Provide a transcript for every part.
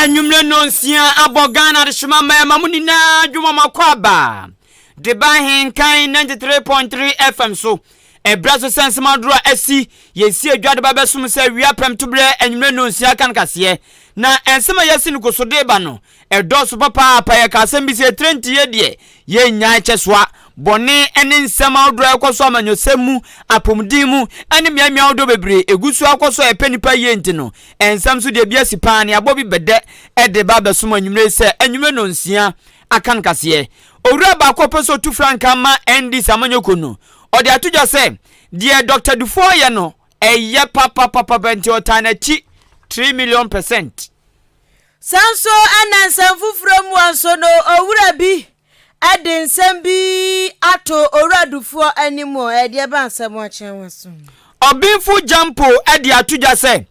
anwummerɛ no nsia abɔ ghana adehyema mmarima mu nyinaa dwuma mu akɔ aba de ba ahenkan 93.3 fm so Ɛberɛ so sɛ nsɛm adorɔ a asi Yɛn sie dwa de ba bɛsom sɛ wia pɛm to berɛ Anwummerɛ nnɔnsia kan kaseɛ Na nsɛm a yɛasi no kɔ so de ba no Ɛdɔɔso papaapa Yɛka asɛm bi sɛ ɛtrɛ nti yɛ deɛ Yɛnnyae kyɛ soa bɔne ne nsɛm ahodoɔ a ɛkɔ so Amanyɔsɛm mu, apɔmuden mu ne mmeammea ahodoɔ bebree Ɛgu so ara kɔ so a ɛpɛ nnipa yie nti no Nsɛm so deɛ bi asi paa Nea abɔ bi bɛdɛ de ba bɛsom anwummerɛ yi sɛ Anwummerɛ nnɔnsia Akan kaseɛ. Owura baako a ɔpɛ sɛ ɔtu frankaa ma NDC amanyɔkuo no, ɔde ato dwa sɛ, Deɛ Dɔkta Dufour yɛ no, ɛyɛ papapapapa nti ɔtaa n'akyi three million percent. Saa nso na nsɛm foforɔ mua nso no, owura bi de nsɛm bi ato Owura Dufour anim o, ɛdeɛ ɛba nsɛm a ɔkyerɛ ho asom. Ɔbenfo Gyampo de ato dwa sɛ,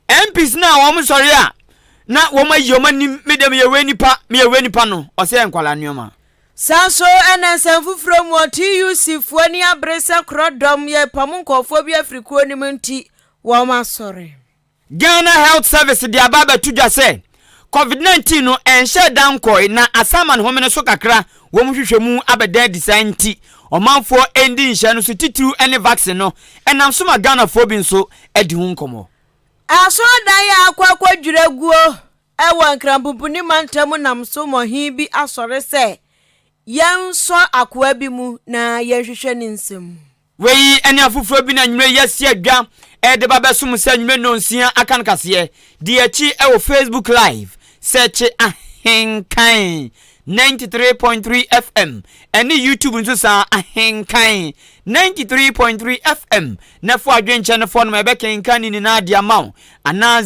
MPs no a wɔsɔre a, na wɔn ayi wɔn anim me deɛ meyɛ wei nipa meyɛ wei nipa no ɔsɛ yɛ nkwadaa nneɛma. Saa nso na nsɛm foforɔ mu TUC foɔ ani abere sɛ korɔ dɔm yɛ repam nkɔɔfoɔ bi afiri kuo no mu nti wɔn asɔre. Ghana Health Service de aba abɛto dwa sɛ Covid 19 no ɛnhyɛɛ da nkɔɔe na asaman home no so kakra wɔn nhwehwɛmu abɛda adi saa nti ɔmanfoɔ ɛndi nhyɛ no so titiriw ɛne vaccine no ɛnam so ma Ghanafoɔ bi nso adi ho nkɔmɔ. Asɔrdan a akɔ akɔdwiri aguo wɔ Nkranbumpuni mantam nam so ma ɔhene bi asɔre sɛ yɛnsɔ akoa bi mu na yɛnhwehwɛ ne nsam. Wei ne afoforɔ bi na nnwuma yi asi adwa de ba bɛsom sɛ nnwuma nnɔnsia aka no kaseɛ. Di akyi wɔ Facebook Live, sɛɛkye Ahenkan 93.3 FM ɛne YouTube nso saa, Ahenkan 93.3 FM. na fa adwenkyɛ no fɔnom a ɛbɛkenkan ne nyinaa de ama wo anaa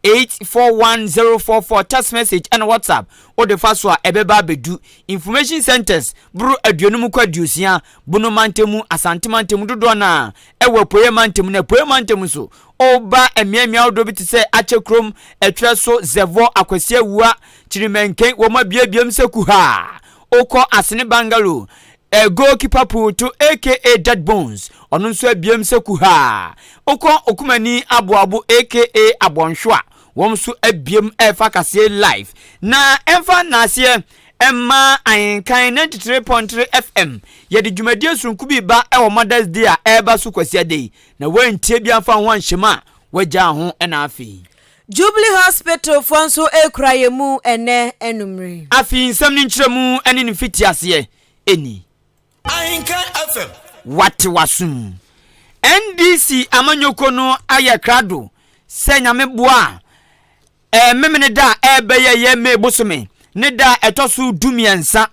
0594841044 text message ɛna whatsapp wode fa so a ɛbɛba abɛdu information centers boro aduonum kɔ aduosia bono mantamu asante mantamu dodoɔ no a ɛwɔ apueɛ mantamu na apueɛ mantamu nso ɔba mmeammea ahodoɔ bi te sɛ akyɛ kurom ɛtwerɛ so zɛvɔ akwasia wua kyirimɛnken wɔn abiabiam sɛ kuhaa okɔ asene bangalo A goalkeeper pull to aka dead bones ɔno nso abiem sɛ kuhaa. Wokɔ Okumani aboabo aka Abɔnhwo a, wɔn nso abiem refa kaseɛ live. Na ɛmfa nnaaseɛ mma Ahenkan 93.3 FM, yɛde dwumadie sononko bi reba wɔ Mother's Day a ɛreba so Kwasiada yi, na woantie bi amfa wo ho anhyɛ mu a, woagyaa ho na afei. Jubilee Hospitalfoɔ nso rekura yɛn mu ɛnnɛ anumere. Afei nsɛm no nkyerɛmu ne ne mfitiaseɛ ni. Ahenka FM. Wate w'asom. NDC amanyɔkuo no ayɛ krado sɛ Nyame boa a, ɛɛ Memeneda a ɛrebɛyɛ yɛ May bosome ne da a ɛtɔ so du mmiɛnsa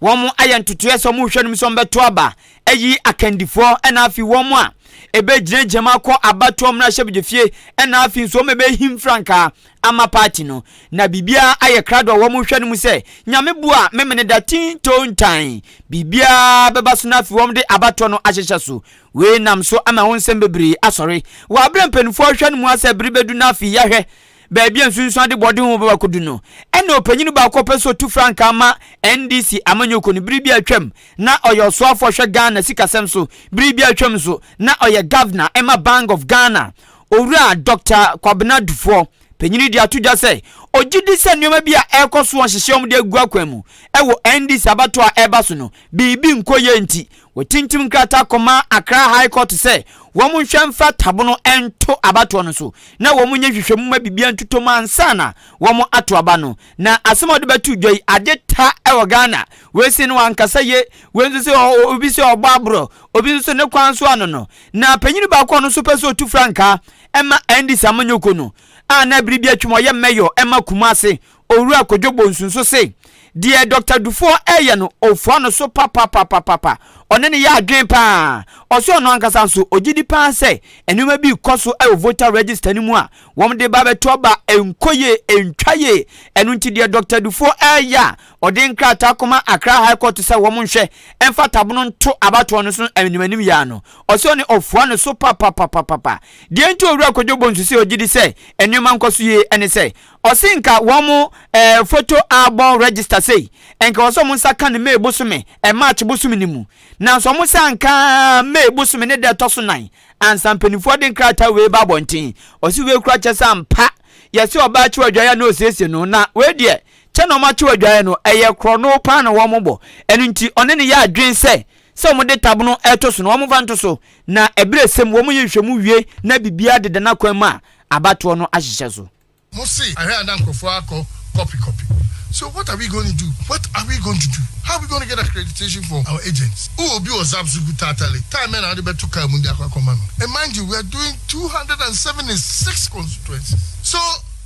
wɔn ayɛ ntotoeɛ sɛ wɔn rehwɛ nom sɛ wɔn bɛto aba ayi akandifoɔ ɛna afi wɔn a ɛbɛgyina gyinam akɔ abatoɔ mmarahyɛbadwafie ɛna afi nso wɔn a ɛbɛhim frankaa ama party no na biribiara ayɛ krado a wɔn rehwɛ nom sɛ nyame bu a memene da tinto ntan biribiara bɛba so no afi wɔn de abatoɔ no ahyehyɛ so wei nam so ama ho nsɛm bebree asɔre wɔ abere mpanimfoɔ hwɛ no mu asɛ bere bɛdu no afi yɛhwɛ baabi a nsunsuande bɔde ho bɛba akodu no, ɛnna ɔpanyin no baako a ɔpɛ sɛ ɔtu frankaa ma NDC amanyɔkuo no, bere bi a atwam na ɔyɛ ɔsoafoɔ a ɔhwɛ Ghana sikasɛm so, bere bi a atwam nso na ɔyɛ Governor ma Bank of Ghana, Owura Dɔkta Kwabena Dufoɔ, panyin no de ato dwa sɛ ɔgye di sɛ nneɛma bi a ɛrekɔ so a wɔhyehyɛ wɔn de agu akwan mu wɔ NDC abatoɔ a ɛreba so no, biribi nkɔ yie nti Wɔatintim nkrataa kɔma Accra High Court sɛ wɔnhwɛ mfa tabo no nto abatoɔ no so na wɔnyɛ nhwehwɛmu mma biribiara ntotɔ mu ansa na wɔato aba no. Na asɛm a wɔde bɛto dwa yi, ade ta wɔ Ghana. Wei se no wankasa ye, wei nso se obi se ɔbɔ aborɔ, obi nso se ne kwan nso ano no. Na panyin baako a ɔno nso pɛ sɛ ɔtu frankaa ma Andy Samanyoko no a na bere bi atwam ɔyɛ mayor ma Kumase Owura Kojo Bonsu nso se deɛ Dɔkta Dufoɔ reyɛ no, ɔfua no so papapapapapa. Ɔne no yɛ adwene pa ara. Ɔse ɔno ankasa nso, ɔgye di pa ara sɛ nneɛma bi rekɔ so wɔ voter register no mu a wɔde reba abɛto aba a ɛnkɔ yie, ɛntwa yie. Ɛno nti deɛ Dɔkta Dufoɔ reyɛ a ɔde nkrataa kɔma Accra High Court sɛ wɔnhwɛ mfa tabono nto abatoɔ no so no animanim yea no, ɔse ɔne ɔfua no so papapapapapa. Deɛ nti a Owura Kojo Bonsu se ɔgye di sɛ nneɛma nkɔ so yie ne sɛ, Ɔse nka wɔn eh photo album register sei nka ɛwɔ sɛ wɔn nsa ka no May bosome eh March bosome no mu nanso wɔn san ka May bosome ne da ɛtɔ so nan ansa mpaninfoɔ de nkrataa wei ba abɔnten ɔse wei kora kyɛ sɛ ampa yɛse ɔbaa kyew adwaeɛ na ɔsiesie no na wei deɛ kyɛ na wɔn akyew adwaeɛ no ɛyɛ korɔno paa na wɔn bɔ ɛno nti ɔne ne yɛ adwen sɛ sɛ wɔn de tabono ɛto so no wɔn mfa nto so na ɛberɛ sɛm wɔn yɛ nhwɛmu wie na biribiara deda n'akwan mu a abatoɔ no ahyehyɛ so. Mo se ahwɛ a na nkurɔfoɔ akɔ copy copy so what are we going to do what are we going to do how are we going to get accreditation for our agents wo obi wɔ zap so gu tatale time bɛn na wode bɛto car mu de akɔ akɔma no and mind you we are doing two hundred and seventy six constituencies so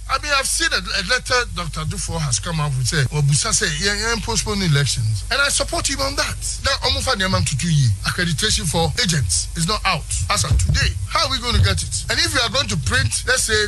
I mean I've seen a, a letter Dr. Dufour has come out with sɛ wabusa sɛ yɛn yɛn postpone elections and I support him on that na wɔn fa nneɛma ntutu yie accreditation for agents is not out as of today how are we going to get it and if we are going to print let's say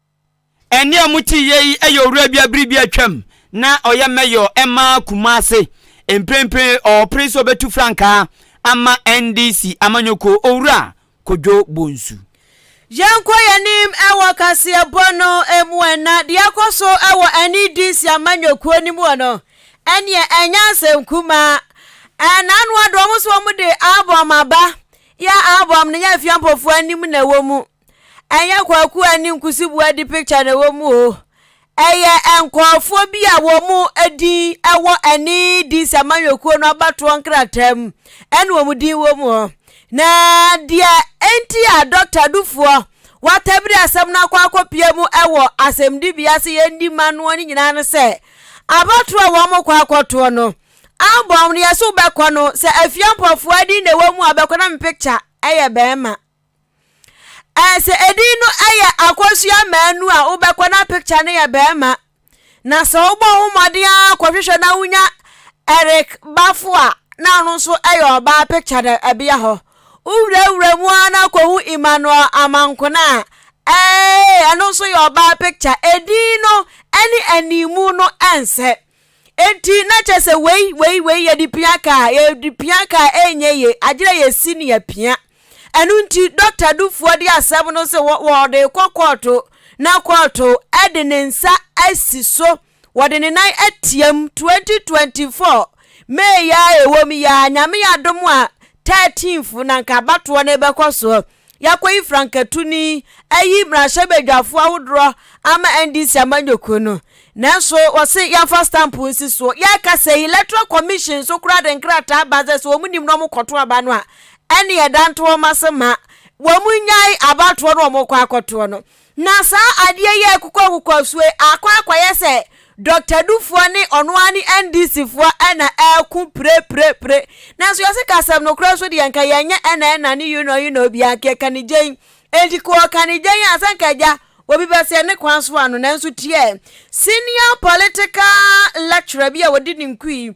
Ɛnne a mote yɛ yi yɛ owura bi a bere bi atwam na ɔyɛ mɛyɔ ma Kumase. Mprempren ɔrepere sɛ obetu frankaa ama NDC amanyɔkuo, Owura Kodwo Bonsu. Yɛnkɔ yɛn anim wɔ kaseɛbɔ no mu ɛna deɛ ɛkɔ so wɔ NDC amanyɔkuo no mu hɔ no, ɛneɛ ɛnyɛ asɛm kumaa. Ɛnaanoa de wɔn nso wɔn de album aba, yɛ album no yɛ Afiampofoɔ anim na ɛwɔ mu. ɛnyɛ kwaku a ne nkusibu adi picture na ɛwɔ mu o ɛyɛ nkurɔfoɔ bi a wɔn din ɛwɔ ɛne DC amanyɔkuo no abatoɔ nkrataa mu ɛna wɔn din wɔ mu hɔ na deɛ ɛnti a dɔkta dufoɔ watabiri asɛm no akɔ akɔpia mu ɛwɔ asɛmdibea sɛ yɛndi ma noɔ no nyinaa no sɛ abatoɔ a wɔn kɔ akɔtoɔ no abɔm no yɛso bɛkɔ no sɛ afia mpɔfoɔ din na ɛwɔ mu a bɛkɔ na me picture ɛyɛ bɛrima Ɛsɛ edin no yɛ akɔsua mmaanu a wobɛkɔ na picture no yɛ bɛrima. Na sɛ wobɔ ho mmɔden ara kɔhwehwɛ na wonya Eric Bafo a na ɔno nso yɛ ɔbaa picture da ɛbea hɔ. Wowurawura mu ara na kɔhu Emmanuel Amankona a ɛɛ ɛno nso yɛ ɔbaa picture. Edin no ne animu no nsɛ. Enti na kyerɛ sɛ wei wei wei yɛde pia kaa yɛde pia kaa ɛnyɛ ye agyerɛ yɛsi ne yɛpia ɛno nti dɔkta dufoɔ de asɛm no sɛ wɔde kɔ kɔɔto na kɔɔto ɛde ne nsa asi so wɔde ne nan atiam 2024 meeya a ɛwɔ mu yaa nyame adom a 13th na nka abatoɔ no bɛkɔ soɔ Yɛakɔyi frankatuni ayi mmarahyɛbadwafo ahodoɔ ama NDC amanyɔkuo no. Nanso wɔse yɛmfa stamp nsi soɔ. Yɛkasa yi, Electoral Commission nso koraa de nkrataa ba sɛ sɛ wɔn nim na wɔkɔto aba no a, ɛne yɛda nto wɔn ase ma wɔn nyae abatoɔ no wɔkɔ akɔtoɔ no. Na saa adeɛ yi a ɛkokɔ akokɔ soɔ yi akɔ akɔyɛ sɛ Doctor Dufoɔ ne ɔno ara ne NDC foɔ na ɛreko pirepirepire. Nanso yɛse ka asɛm nokorɛ nso deɛ nka yɛnyɛ ɛna ɛna ne yunɔ yunɔ biara nka yɛka ne gyen. Enti ka ɔka ne gyen a sɛ nka agya obi bɛseɛ ne kwan so ano nanso tiɛ senior political lecturer bi a ɔdi ne nku yi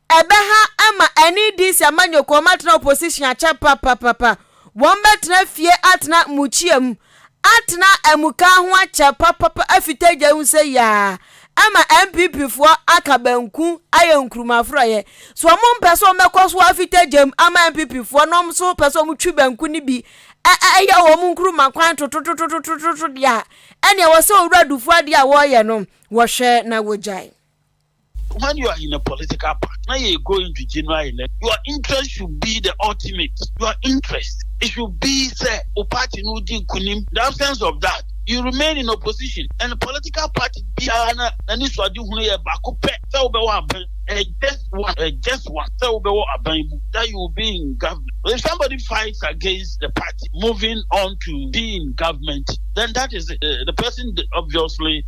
Ɛbɛha ama NEDC amanyɔkuo ɔmo atena opposition akyɛ papapapa, wɔn bɛtena fie atena mukyia mu atena amukaa ho akyɛ papapa afi tagya mu sɛ yaa ɛma NPP foɔ aka banku ayɛ nkruma forɔeɛ so ɔmo mpɛ sɛ ɔmo bɛkɔ so afi tagya mu ama NPP foɔ na ɔmo so pɛ sɛ ɔmo twi banku no bi ɛyɛ wɔn nkruma kwan tototototototo deɛ a ɛne ɛwɔ sɛ owura dufu adeɛ a wɔyɛ no wɔhwɛ na wɔgyae. When you are in a political party na yɛ going to general election, your interest should be the ultimate. Your interest it should be sɛ o party no di nkunim. The absence of that, you remain in opposition and political party biara na n'ani so ade hunu yɛ baako pɛ sɛ wobɛwɔ aban. Uh, just one, uh, just one. Sɛ wobɛwɔ aban mu that you will be in government. If somebody fights against the party moving on to be in government, then that is it. Uh, the person obviously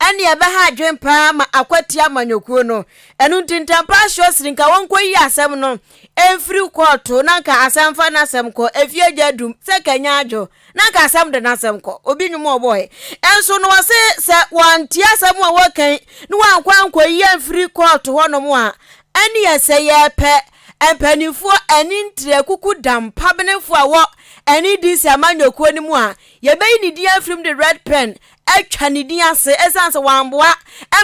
Ɛnne a ɛbɛha adwene paa ma akwati amanyɔkuo no. Ɛno nti Ntampaa srɛ Srinka wɔnkɔyi asɛm no mfiri kɔɔto na anka asan mfa n'asɛm kɔ efie agya adum sɛ kanya adwo na anka asɛm de n'asɛm kɔ. Obi nnwom a ɔbɔeɛ nso no ɔse sɛ wɔantie asɛm a wɔreka yi na wɔankɔ ankɔyi amfiri kɔɔto hɔnom a ɛnneɛ sɛ yɛrepɛ mpanimfoɔ ani ntrɛ kuku dam pabenefoɔ a wɔ NEDC amanyɔkuo no mu a yɛbɛyi ne din afirim de red pen atwa ne din ase esiane sɛ wamboa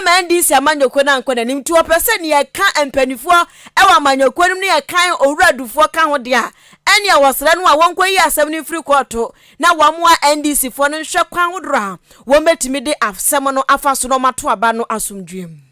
ma NDC amanyɔkuo no ankɔ n'anim nti wɔpɛ sɛ nea ɛka mpanimfoɔ wɔ amanyɔkuo no mu ne nea ɛka Owura Adufoɔ ka ho deɛ a, ɛnneɛ wɔsrɛ no a wɔnkɔyi asɛm no mfiri kɔɔto na wɔmmoa NDCfoɔ no nhwɛ kwan hodoɔ a wɔbɛtumi de asɛm no afa so na wɔato aba no asomdwoeɛ mu.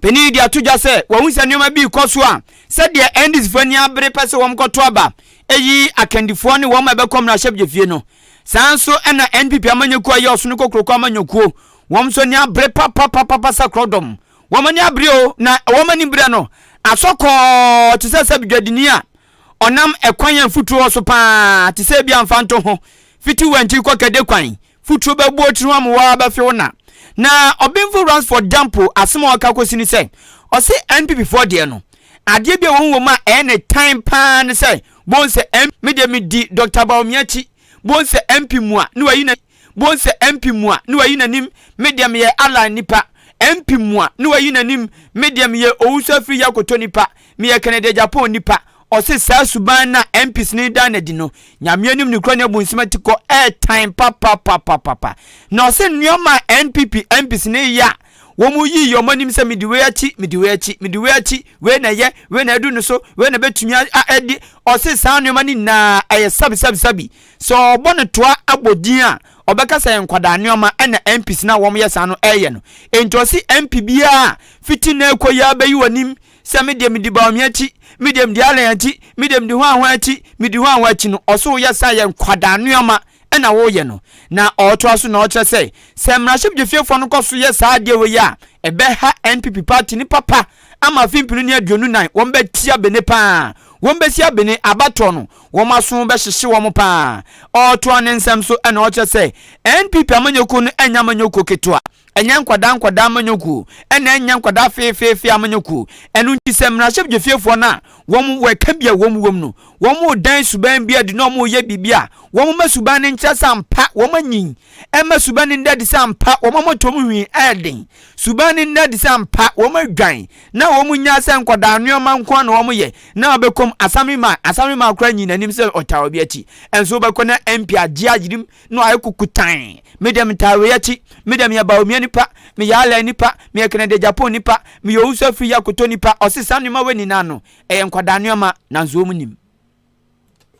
Panyin yi de ato dwa sɛ wahu sɛ nneɛma bi rekɔ so a sɛdeɛ NDCfoɔ ani abere pɛ sɛ wɔkɔto aba yi akandifoɔ ne wɔn a ɛbɛkɔ mmarahyɛbadwafie no. Saa nso na NPP amanyɔkuo a ɛyɛ Ɔsono Kokroko amanyɔkuo, wɔn nso ani abere papapapapa sɛ korɔdɔm. Wɔn ani abere o, na wɔn anim berɛ no asɔ kɔɔ te sɛ sɛ dwadini a ɔnam ɛkwan a mfutuo wɔ so paa te sɛ ebia Mfantoho, Fitiwantwi kɔ Kɛdekwan, Futuro bɛbu otiri ho amoa ara bɛfe wo na. Na ɔbenfo Ransford Dampo asem a ɔka kosi ne sɛ, ɔse NPP foɔ deɛ no, adeɛ bi a wɔhu wɔm a ɛyɛ ne tan paa ne sɛ bohu sɛ MP Me deɛ me di Doctor Bawumia akyi, bohu sɛ MP mua ne wayi n'anim, bohu sɛ MP mua ne wayi n'anim, me deɛ meyɛ Allan nipa, MP mua ne wayi n'anim, me deɛ meyɛ Owusu-Afiri-Yakoto nipa, Meyɛ Kennedy Agyapong nipa, ɔse saa suban no a MPs no redan no adi no, Nyame anim ne kura ne abu nsem ati kɔ ɛɛtan papapapapapa. Na ɔse nnoɔma a NPP MPs no reyɛ a wɔn yii wɔn anim sɛ medi wei akyi, medi wei akyi, medi wei akyi, wei na ɛyɛ, wei na adu no so, wei na bɛtumi a a adi, ɔse saa nnoɔma no nyinaa ɛyɛ sabisabisabi. Sɛ ɔbɔ no toa bɔ din a, ɔbɛka sɛ ɛyɛ nkwadaa nnoɔma na MPs no a wɔyɛ saa no reyɛ no. Enti ɔse MP biara a fiti nnɛ rekɔ yi ara bɛyi wɔn anim sɛ me deɛ medi Baomia akyi, me deɛ medi Allen akyi, me deɛ medi hwan hwan akyi, medi hwan hwan akyi no, ɔso woyɛ saa yɛ nkwadaa nneɛma ɛna woyɛ no. Na ɔtoa so na ɔkyerɛ sɛ, sɛ mmarahyɛbadwafiefoɔ no kɔ so yɛ saa adeɛ wei a, ɛbɛha NPP party no papa ama afe mpenu ne aduonu nan, wɔn bɛtia Bene paa, wɔn bɛsia Bene, abatoɔ no, wɔn aso bɛhyehye wɔn paa. Ɔtoa ne nsɛm so ɛna ɔkyerɛ sɛ, NPP amanyɔkuo no ɛnyɛ amanyɔkuo ketewa. Ɛnyɛ nkwadaa nkwadaa amanyɔkuo, ɛna ɛnyɛ nkwadaa feefeefe amanyɔkuo. Ɛno nti sɛ mmarahyɛbdwafiefoɔ no a wɔn wɔ ɛka bi a wɔn wɔ mu no, wɔn redan suban bi adi na wɔn reyɛ biribi a, wɔn mma suban no nkyerɛ sɛ ampa wɔn anyin. Ɛmma suban no nda adi sɛ ampa wɔn mmɔtoam nhwi ɛyɛ den. Suban no nda adi sɛ ampa wɔn adwan na wɔn nnyaa sɛ nkwadaa nnoɔma nko ara na wɔn yɛ na wɔbɛkɔ mu. Asamema, Asamema koraa nyii n'anim sɛ ɔtaa obi akyi. Ɛnso wobɛkɔ na MP agye ayerim no ayɛ kukutann. Meda Mitaawei akyi. Meda meyɛ Baomia nipa, meyɛ Alai nipa, meyɛ Kennedy Agyapong nipa, meyɛ Owusu Afiri Yakoto nipa, ɔse saa nnoɔma wei nyinaa no ɛyɛ nkwadaa nnoɔma nanso wɔn nim.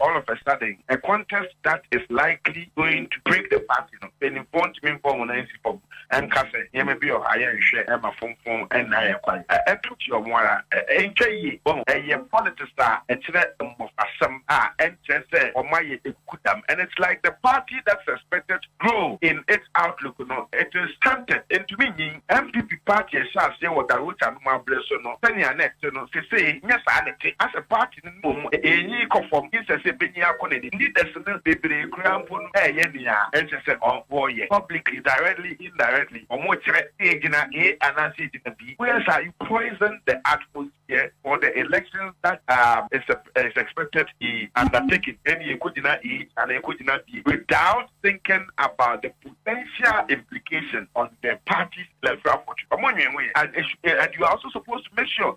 All of a sudden a contest that is likely going to break the party no, mpanyinfoɔ ntumi mfa wɔn nan nsi fam. ɛnka sɛ nneɛma bi wɔ hɔ a yɛnhwɛ ɛma fomfom nna yɛn kwan. Ɛto tiaw mo ara. Ɛntwa yie. Wahu? Ɛyɛ politics a ɛkyerɛ mmofrasɛm a ɛnkyerɛ sɛ wɔayɛ nkudam and it's like the party that is expected to grow in its outlook no it is stunted, ɛntumi nyin. NPP party a ɛhyɛ aseɛ wɔ Darwecha no mu aberɛ so no sɛnea na ɛte no sesei nyɛ saa na ɛte. Asɛ party. Mmom, eyi kɔ fam sɛ sɛ benyin akɔ n'anim. Nnɛ da so no, bebree koraa mpo no reyɛ nea ɛnsɛ sɛ wɔyɛ, publicly, directly, indirectly, wɔkyerɛ sɛ yegyina A anaa sɛ yegyina B. Woyɛ saa a, you poison the atmosphere for the elections that are is expected to be undertaken, ɛnde yekogyina A anaa yekogyina B without thinking about the potential implications on the party's electoral fortune. Wɔnnwen ho ɛ, and you are also supposed to make sure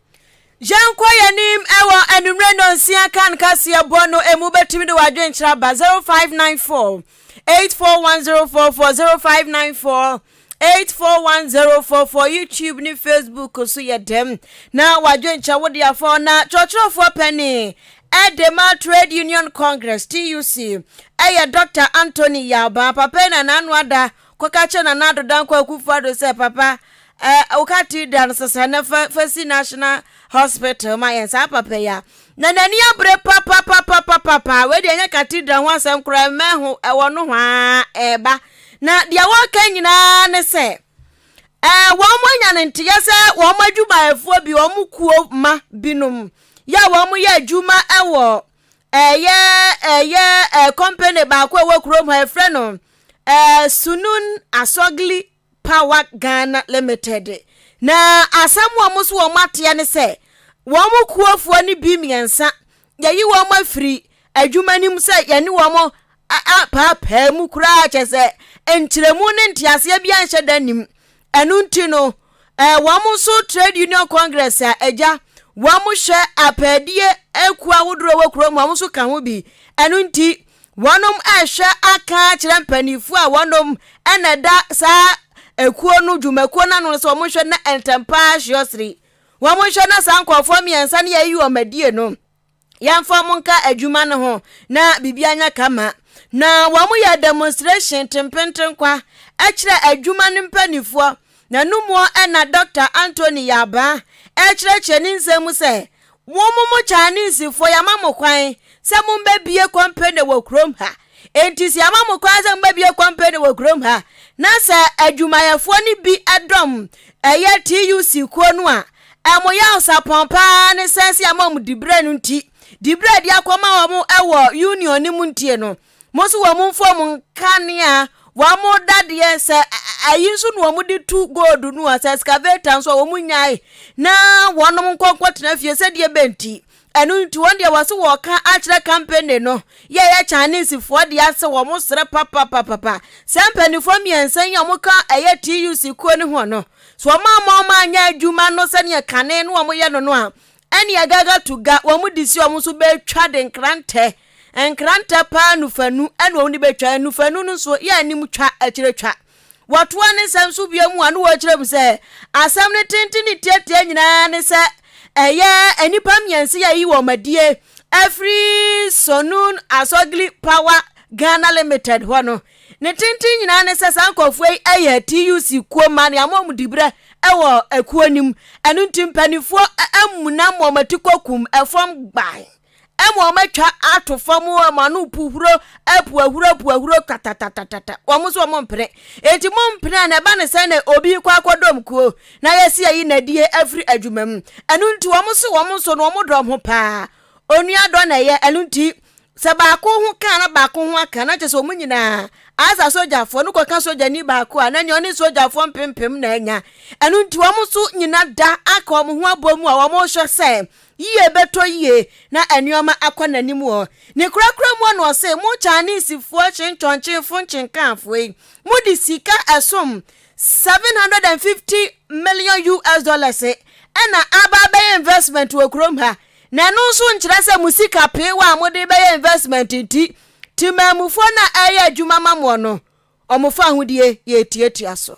Yɛnkɔ yɛn anim wɔ anwummerɛ nnɔnsia kan kaseɛbɔ no ɛmu bɛtumi de w'adwenkyerɛ aba 0594 841044 0594 841044 YouTube ne Facebook so yɛ dɛm na w'adwenkyerɛ wo de afɔ na kyerɛkyerɛfoɔ pɛni ɛde ma Trade Union Congress TUC ɛyɛ Dr. Anthony Yalba papa na n'ano ada Kɔka kyerɛ Nana Addo Dankwa Akufo-Addo sɛ, Papa, eh, woka ti da no sesa na fa, fa si National Hospital ma yɛn, saa papa yi a. Na n'ani abere papapapapapa, wei deɛ ɛnyɛ cathedral ho asɛm koraa, mmɛn ho, ɛwɔ nohoaa, ɛreba. Na deɛ wɔreka nyinaa ne sɛ, eh, wɔanya no nteɛ sɛ wɔn adwumayɛfoɔ bi, wɔn kuo mma binom, yɛ a wɔyɛ adwuma wɔ Ɛyɛ ɛyɛ ɛɛ company baako a ɛwɔ kurom ha yɛfrɛ no ɛɛ Sunun Asɔgli Power Ghana Limited na asɛm wɔn nso wɔn ateɛ ne sɛ wɔn kuofoɔ no bi mmiɛnsa yɛyi wɔn afiri adwuma no mu sɛ yɛne wɔn apaapaa mu koraa kyɛ sɛ nkyerɛmu ne nteaseɛ bi anhyɛ da nim Ɛno nti no, eh, wɔn nso trade union congress a agya wɔn hwɛ apɛɛdeɛ akuo ahodoɔ ɛwɔ kurom wɔn nso ka ho bi. Ɛno nti wɔnom ɛhwɛ aka kyerɛ mpanimfoɔ a wɔnom ɛna ɛda saa akuo no dwumakuo no ano no sɛ wɔn nhwɛ na ntɛmpaa hyeɔsere wɔn nhwɛ na saa nkurɔfoɔ mmiɛnsa no yɛyi wɔn adie no yɛmfa wɔn nka adwuma no ho na biribi anya kama na wɔn yɛ demonstration tempentenkwa ɛkyerɛ adwuma no mpanimfoɔ na numuɔ ɛna dr anthony yabaa ɛkyerɛkyerɛ ne nsɛm mu sɛ wɔn mo chinesefoɔ yɛama mo kwan sɛ mombɛbie company wɔ kurom ha enti sɛ yɛama mo kwan sɛ mombɛbie company wɔ kurom ha na sɛ adwumayɛfoɔ no bi ɛdɔm ɛyɛ tuc kuo no a Ɛmo yaw sapɔn paa ne sɛ sɛ ama wɔn dibrɛ no nti, dibrɛ a ɛde akɔma wɔn wɔ union no mu ntie no, mo nso wɔn mfom nkanea, wɔn dadeɛ, sɛ ayi nso na wɔn de tu gold no a, sɛ excavator nso a wɔn nyae na wɔn nkɔ nkɔtena fie sɛdeɛ bɛnti Ɛno nti wɔn deɛ wɔse wɔka akyerɛ kampani no yɛ yɛ Chinesefoɔ deɛ sɛ wɔn serɛ papapapapa sɛ mpanimfoɔ mmiɛnsa yi a wɔn ka ɛyɛ TUC kuo no ho no so wɔn ama wɔn anyɛ adwuma no sɛdeɛ kane no wɔn yɛ no no a ɛne agaga to ga wɔn de si wɔn so bɛtwa de nkrantɛ nkrantɛ paa nufanu ɛna wɔn de bɛtwa nufanu no so yɛ anim twa akyire twa Wɔtoa ne nsɛm so bio mu a na wɔkyerɛ mu sɛ, Asɛm no tenten ne tiatia nyinaa ne sɛ ɛyɛ nnipa mmiɛnsa yi a ɛyi wɔn adie afiri Sonun Asogli Power Ghana Limited hɔ no. Ne tenten nyinaa ne sɛ saa nkurɔfoɔ yi yɛ TUC kuo mma ne ama wɔn diberɛ wɔ kuo no mu. Ɛno nti mpanimfoɔ amuna ma wɔn ati kɔkum fam gban. Ɛma wɔatwa ato fam hɔ ma no puhuro apu ahuro apu ahuro katatatatata wɔn nso wɔn mpene enti mo mpene a na ɛba ne sɛ na obi kɔ akɔdɔm kuo na yɛsi ayi nadie afiri adwuma mu ɛno nti wɔn nso wɔn nso no wɔn dɔm ho paa onua dɔ na ɛyɛ ɛno nti sɛ baako ho kaa na baako ho aka na kyerɛ sɛ wɔn nyinaa asa sogyafoɔ no kɔka sogyani baako a na nea ɔne sogyafoɔ mpempem na anya ɛno nti wɔn nso nyina da aka wɔn ho abɔ mu a wɔn rehwɛ sɛ Yiye bɛtɔ yiye na nneɛma akɔ n'anim wɔ ne korakora mu na ɔse, Mo Chinesefoɔ hyentɔnkyenfo nkyenkanfoɔ yi, mode sika ɛsom 750 million US dollars na aba abɛyɛ investment wɔ kurom ha, na ɛno nso nkyerɛ sɛ mo sika peewa a mode bɛyɛ investment nti, temammufoɔ no a ɛreyɛ adwuma ma moɔ no, wɔfa ahodie yɛ atiatia so.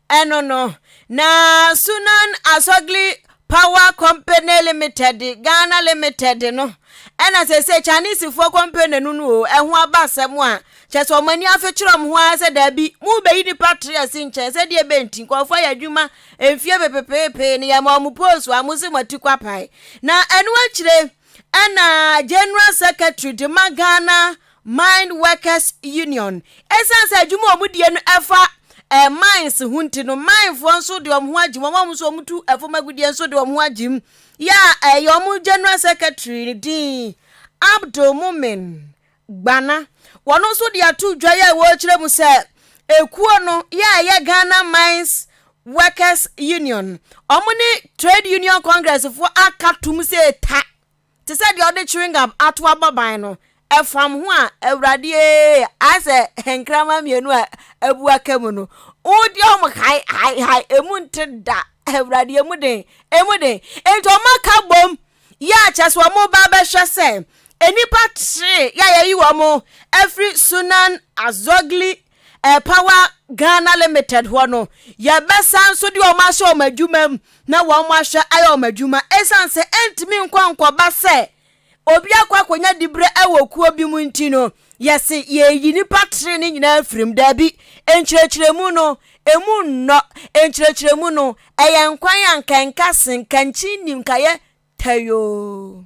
Ɛno no, na Sunan Asogli Power Company Limited, Ghana Limited no ɛna sese Chinesefoɔ company no no o, ɛho aba asɛm a kyɛ sɛ wɔn ani afekyerɛ wɔn ho ara sɛ daabi, mo bɛyi nipa tre asi nkyɛn sɛ deɛ bɛ nti nkurɔfoɔ yɛ adwuma mfie pepepeepee no yɛ ma wɔn post a mo se mo ati kwapae. Na ɛno akyire ɛna General Secretary de ma Ghana Mine Workers Union. Ɛsiane sɛ adwuma a wɔdie no ɛfa eh, mines ho nti no, minefoɔ nso de wɔn ho agye mu. Wɔn nso wɔtu ɛfam agudeɛ nso de wɔn ho agye mu. Yɛ a ɛyɛ wɔn general secretary ne din Abdul Mumin Gbana. Wɔn nso de ato dwa yɛ a wɔrekyerɛ mu sɛ ekuo no yɛ a ɛyɛ Ghana Mines Workers Union. Wɔn ne Trade Union Congress foɔ aka tom sɛ eta. Te sɛ deɛ ɔde chewing gum ato abɔban no, ɛfam ho a, Awurade ee, ayɛ sɛ nkrama mmienu a abu aka mu no, wodi wɔn hae hae hae, emu nte da, Awurade emu den, emu den. Enti wɔn aka bom yɛ akyɛ sɛ wɔn ba bɛhwɛ sɛ nnipa tee yɛ a yɛyi wɔn afiri Sunan Azogli Air Power Ghana Limited hɔ no, yɛbɛsan nso de wɔn ahyɛ wɔn adwuma mu na wɔn ahwɛ ayɛ wɔn adwuma ɛsiane sɛ ɛntumi nkɔ nkɔba sɛ obi akɔ akɔnya diberɛ wɔ kuo bi mu nti no, yɛse yɛyi nipa tere ne nyinaa firim. Daabi, nkyerɛkyerɛmu no, ɛmu nnɔ, nkyerɛkyerɛmu no, ɛyɛ nkwan a nka ɛnka se, nka nkyi nnim, nka yɛ tayoo.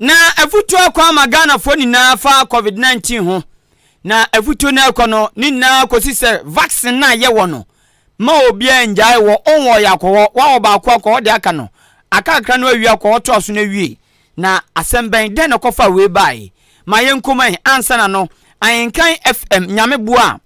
Na afutuo akɔ ama Ghanafoɔ nyinaa fa covid 19 ho na afutuo no ɛkɔ no ne nyinaa kɔsi sɛ vaccine no a yɛwɔ no ma obiara ngyae wɔ ɔnwɔ yɛ akɔ hɔ wawɔ baako akɔ hɔ de aka no akakra no awie akɔ hɔ to aso no awie na asɛm bɛn dɛn na kɔfa wei bae ma yɛn kɔmae ansa na no ahenkan fm nyame boa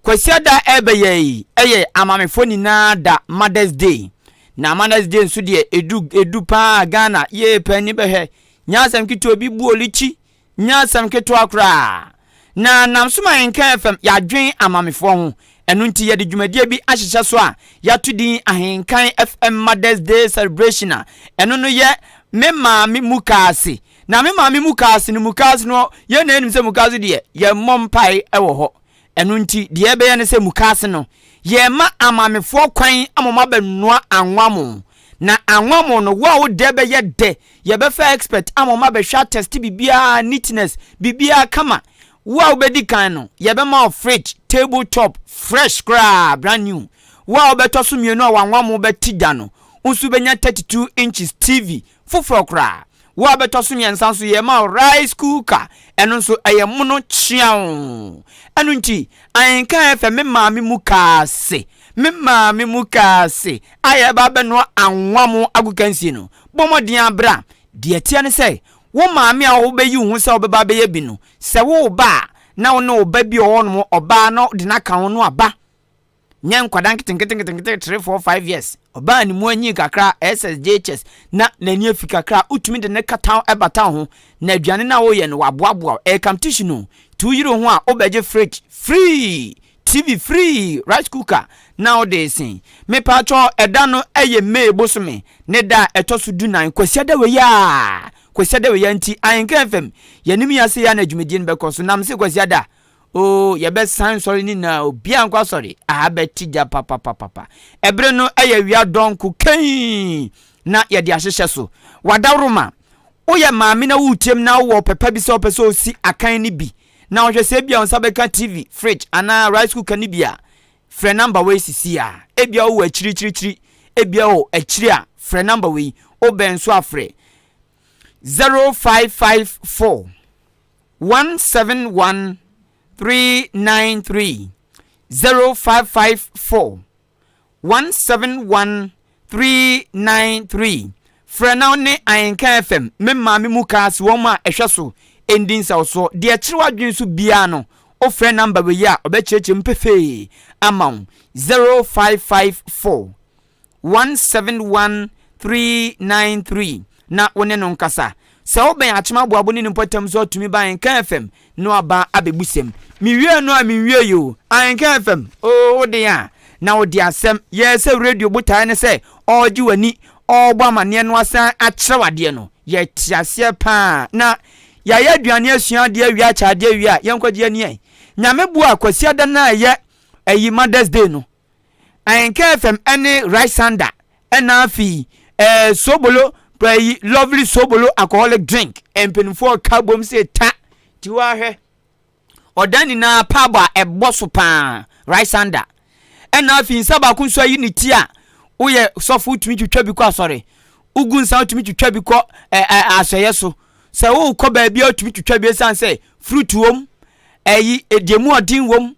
Kwasiada a ɛrebɛyɛ yi yɛ amaamefoɔ nyinaa da mothers day na mothers day nso deɛ edu edu paa Ghana yee pɛ ni bɛhwɛ nyɛ asɛm ketewa obi bu olikyi nyɛ asɛm ketewa koraa na nam so ma nka fam yɛadwen amaamefoɔ ho ɛno nti yɛde dwumadie bi ahyehyɛ so a yɛato din ahenkan fm mothers day celebration a ɛno no yɛ me maame mu kaase na me maame mu kaase no mu kaase no yɛn na yɛnim sɛ mu kaase deɛ yɛmmɔ mpae wɔ hɔ Ɛno nti, deɛ yɛbɛyɛ ne sɛ mukaase no, yɛrema amamefoɔ kwan ama wɔn abɛnoa anwammo. Na anwammo no, wo a wo dɛ bɛyɛ dɛ, yɛbɛfa expert ama wɔn abɛhwɛ atɛste biribiara, neatness, biribiara kama. Wo a wobɛdi kan no, yɛbɛma wo fridge, table top, fresh koraa, brand new. Wo a wobɛtɔ so mmienu a w'anwammo bɛte dwa no, wo nso wobɛnya 32 inches TV, Foforɔ koraa, wo a bɛtɔ so mmiɛnsa nso yɛrema wo rice cooker, ɛno nso ɛyɛ mono kyeaw. Ɛno nti, ahenka ɛfɛ me maame mu kaa se, me maame mu kaa se, a yɛreba abɛnoa anwa mo agokansie no, bɔ mmɔden ara bra. Deɛ ɛteɛ ne sɛ, wo maame a wobɛyi wo ho sɛ wobɛba abɛyɛ bi no, sɛ woreba a, na wo ne wo ba bi a ɔwɔ hɔnom, ɔbaa, na wode no aka ho no aba. Nyɛ nkwadaa nketenketenkete three four five years ɔbaa ne mu anyin kakra ssjhs na n'ani afi kakra a wotumi de ne kataw bata wo ho na aduane no a woyɛ no waboaboa wo ɛyɛ competition o nti woyere wo ho a wobɛgye fridge free TV free rice cooker na wode resen mepatwɔ ɛda no ɛyɛ May bosome ne da a ɛtɔ so du nan Kwasiada wei a Kwasiada wei a nti Ahenkan FM yɛnim yɛ ase yɛ a na dwumadie no bɛkɔ so nam se Kwasiada Oo, yɛbɛ san sɔre ne nyinaa, obiaa nkɔ asɔre, aha bɛ te gya papapapapa. Ɛbere no ɛyɛ awia dɔnko kaiin na yɛde ahyehyɛ so. W'adaworoma, wo yɛ maame na wo team na wo wɔ ɔpɛ pa bi sɛ wopɛ sɛ osi akan ne bi, na wohwɛ sɛ ebia wo nsa bɛ ka TV, fridge anaa rice cooker ne bi a, frɛ number wei sisiaa. Ebia wo wɔ akyirikyirikyiri, ebia wo akyiri a, frɛ number wei, wo bɛn so a frɛ 0554. one seven one three nine three zero five five four one seven one three nine three frɛ na ne ahenka fm me maame mu kaa si wɔn a ɛhwɛ so ɛndi nsawsoɔ deɛ ɛkyerɛ w'adwene so biara no wofrɛ namba wei a ɔbɛkyerɛkyerɛ mu pefee ama wo zero five five four 171393 na wo ne no nkasa. Sɛ wo bɛn akyem aboabo ne ne mpɔtam so atumi ba Anchor FM no aba abɛbu sɛm. Me wiee no a me nwiee oo. Anchor FM oo wo den a na wo de asɛm. Yɛɛ sɛ radio botaeɛ ne sɛ ɔɔgye w'ani, ɔɔbɔ amaneɛ no asan akyerɛ wo adeɛ no. Yɛ te aseɛ paa. Na yɛayɛ aduane asua adeɛ awie akyɛ adeɛ awie a yɛnkɔgye yɛn ani ɛ. Nyame boa Kwasiada no a ɛyɛ ɛyi Mother's Day no. Ahenka FM ne Rysanda na afi eh, Sobolo pra yi Lovely Sobolo alcoholic drink Mpanyinfoɔ ka bom se ta Tiwa hwɛ Ɔda nyinaa pub a ɛbɔ so paa Rysanda ɛna afi nsa baako nso ayi ne ti a woyɛ sɔfo wotumi twitwa bi kɔ asɔre wogu nsa wotumi twitwa bi kɔ eh, eh, asɔeɛ so sɛ wokɔ baabi a wotumi twitwa bi ɛsiane sɛ fruit wom ɛyi deɛ mu ɔden wom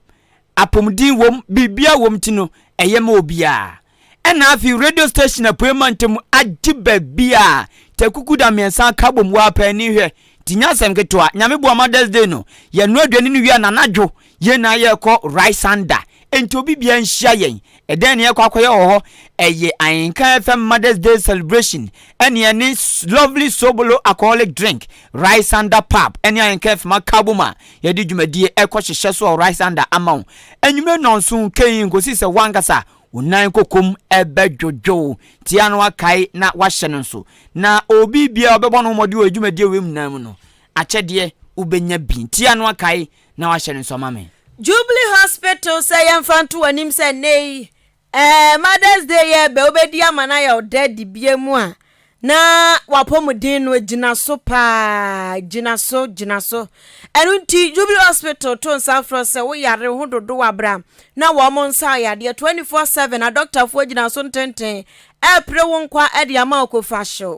Apomuden wom, biribiara wom nti no, ɛyɛ ma obiara. Ɛnna afei radio station Apuei Mantam agye baabi a Tɛkukuda mmiɛnsa aka abom wɔ Apa ani hwɛ nti nyɛ asɛm ketewa. Nyame boa Mother's Day no, yɛnoa aduane no wie a, n'anadwo yɛn nyinaa yɛrekɔ Rysanda. Enti obi biara nhyia yɛn. Ɛdɛn ne yɛkɔ akɔyɛ wɔ hɔ? Ɛyɛ Ayenka FM Mother's Day celebration ɛne ɛne Lovely Sobolo alcoholic drink, Rice Under Pub ɛne Ayenka FM Akabom a yɛde dwumadie ɛkɔ hyehyɛ so wɔ Rice Under ama wo. Anwummerɛ nɔnso kei nkosi sɛ wankasa wo nan kokom ɛbɛdwodwo wo, tia no akae na wahyɛ no nso. Na obi biara ɔbɛbɔ no mmɔden wɔ dwumadie wei nyinaa mu no, akyɛdeɛ wobɛnya bi. Tia no akae. na wahyɛ no nso ama me. Jubilee Hospital sɛ yɛmfa nto w'anim sɛ nnɛ yi eh, Mother's Day yɛ bɛ wobɛdi ama no ayɛ ɔdɛ dibea mu a na w'apɔmuden no gyina so paa gyina so gyina so ɛno nti Jubilee Hospital to nsa frɛ sɛ woyare ho dodo wabra na wɔn nsa yadeɛ 24/7 adɔktafoɔ gyina so ntenten ɛpere wo nkwa de ama wo kofa hyew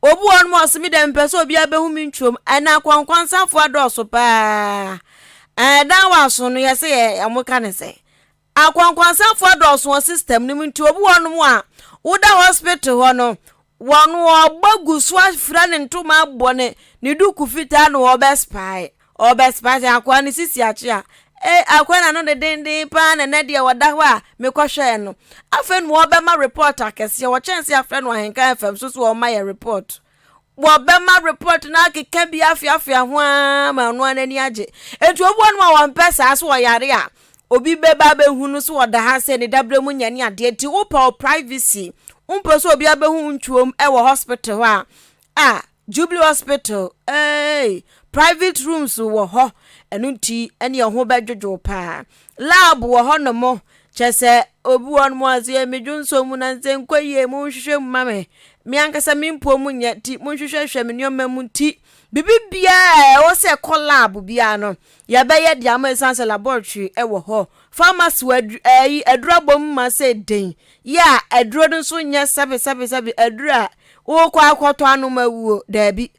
obi wɔ nom ɔse me dɛ mepɛ sɛ obiara bɛhu me ntwom ɛna akwankwansafo adɔɔso paa ɛdan wɔ aso no yɛ sɛ yɛ ɔmo ka ne sɛ akwankwansafo adɔɔso wɔ system no mu nti obi wɔ nom a woda hospital hɔ no wɔn ɔba gu so afira ne ntoma abɔ ne ne duku fitaa na wɔbɛspae Ɔbɛspae akoa no sisi akye a, e, akoa na no de denden paa na ɛnɛ deɛ wɔda hɔ a mekɔhwɛɛ no. Afei no wɔbɛma report akɛseɛ, wɔkyɛn sɛ afrɛ no ahenka FM so so wɔma yɛ report. Wɔbɛma report no akeka bi afeafea ho ara ma ɔno ara n'ani agye. Enti obi wɔ no a wɔmpɛ saa so ɔyare a, obi bɛba abɛhu no so ɔda ha sɛ ne dabrɛ mu nyɛ ne adeɛ nti wopɛ wo privacy. Wompɛ sɛ obi abɛhu wo ntwom wɔ hospital hɔ a, a, Jubilee hospital eeii private rooms wɔ hɔ ɛno nti ɛne ɛho bɛdwodwo paa lab wɔ hɔ nom kyɛ sɛ obi wɔ nom aseɛ me dwonsɔ mu na nsɛ nkɔ yie mo nhwehwɛ mu ma me me ankasa me mpuo mu nyɛ ti mo nhwehwɛ hwɛ me nneɛma mu ti bibi biara ɛwɔ sɛ ɛkɔ lab biara no yɛbɛyɛ de ama ɛsiane sɛ laboratory ɛwɔ hɔ pharmacy wɔ aduru ɛyi aduru abom ma sɛ den yɛ a aduro no nso nyɛ sɛbi sɛbi sɛbi aduru a Wokɔ akɔtɔ anomawuo? Daabi.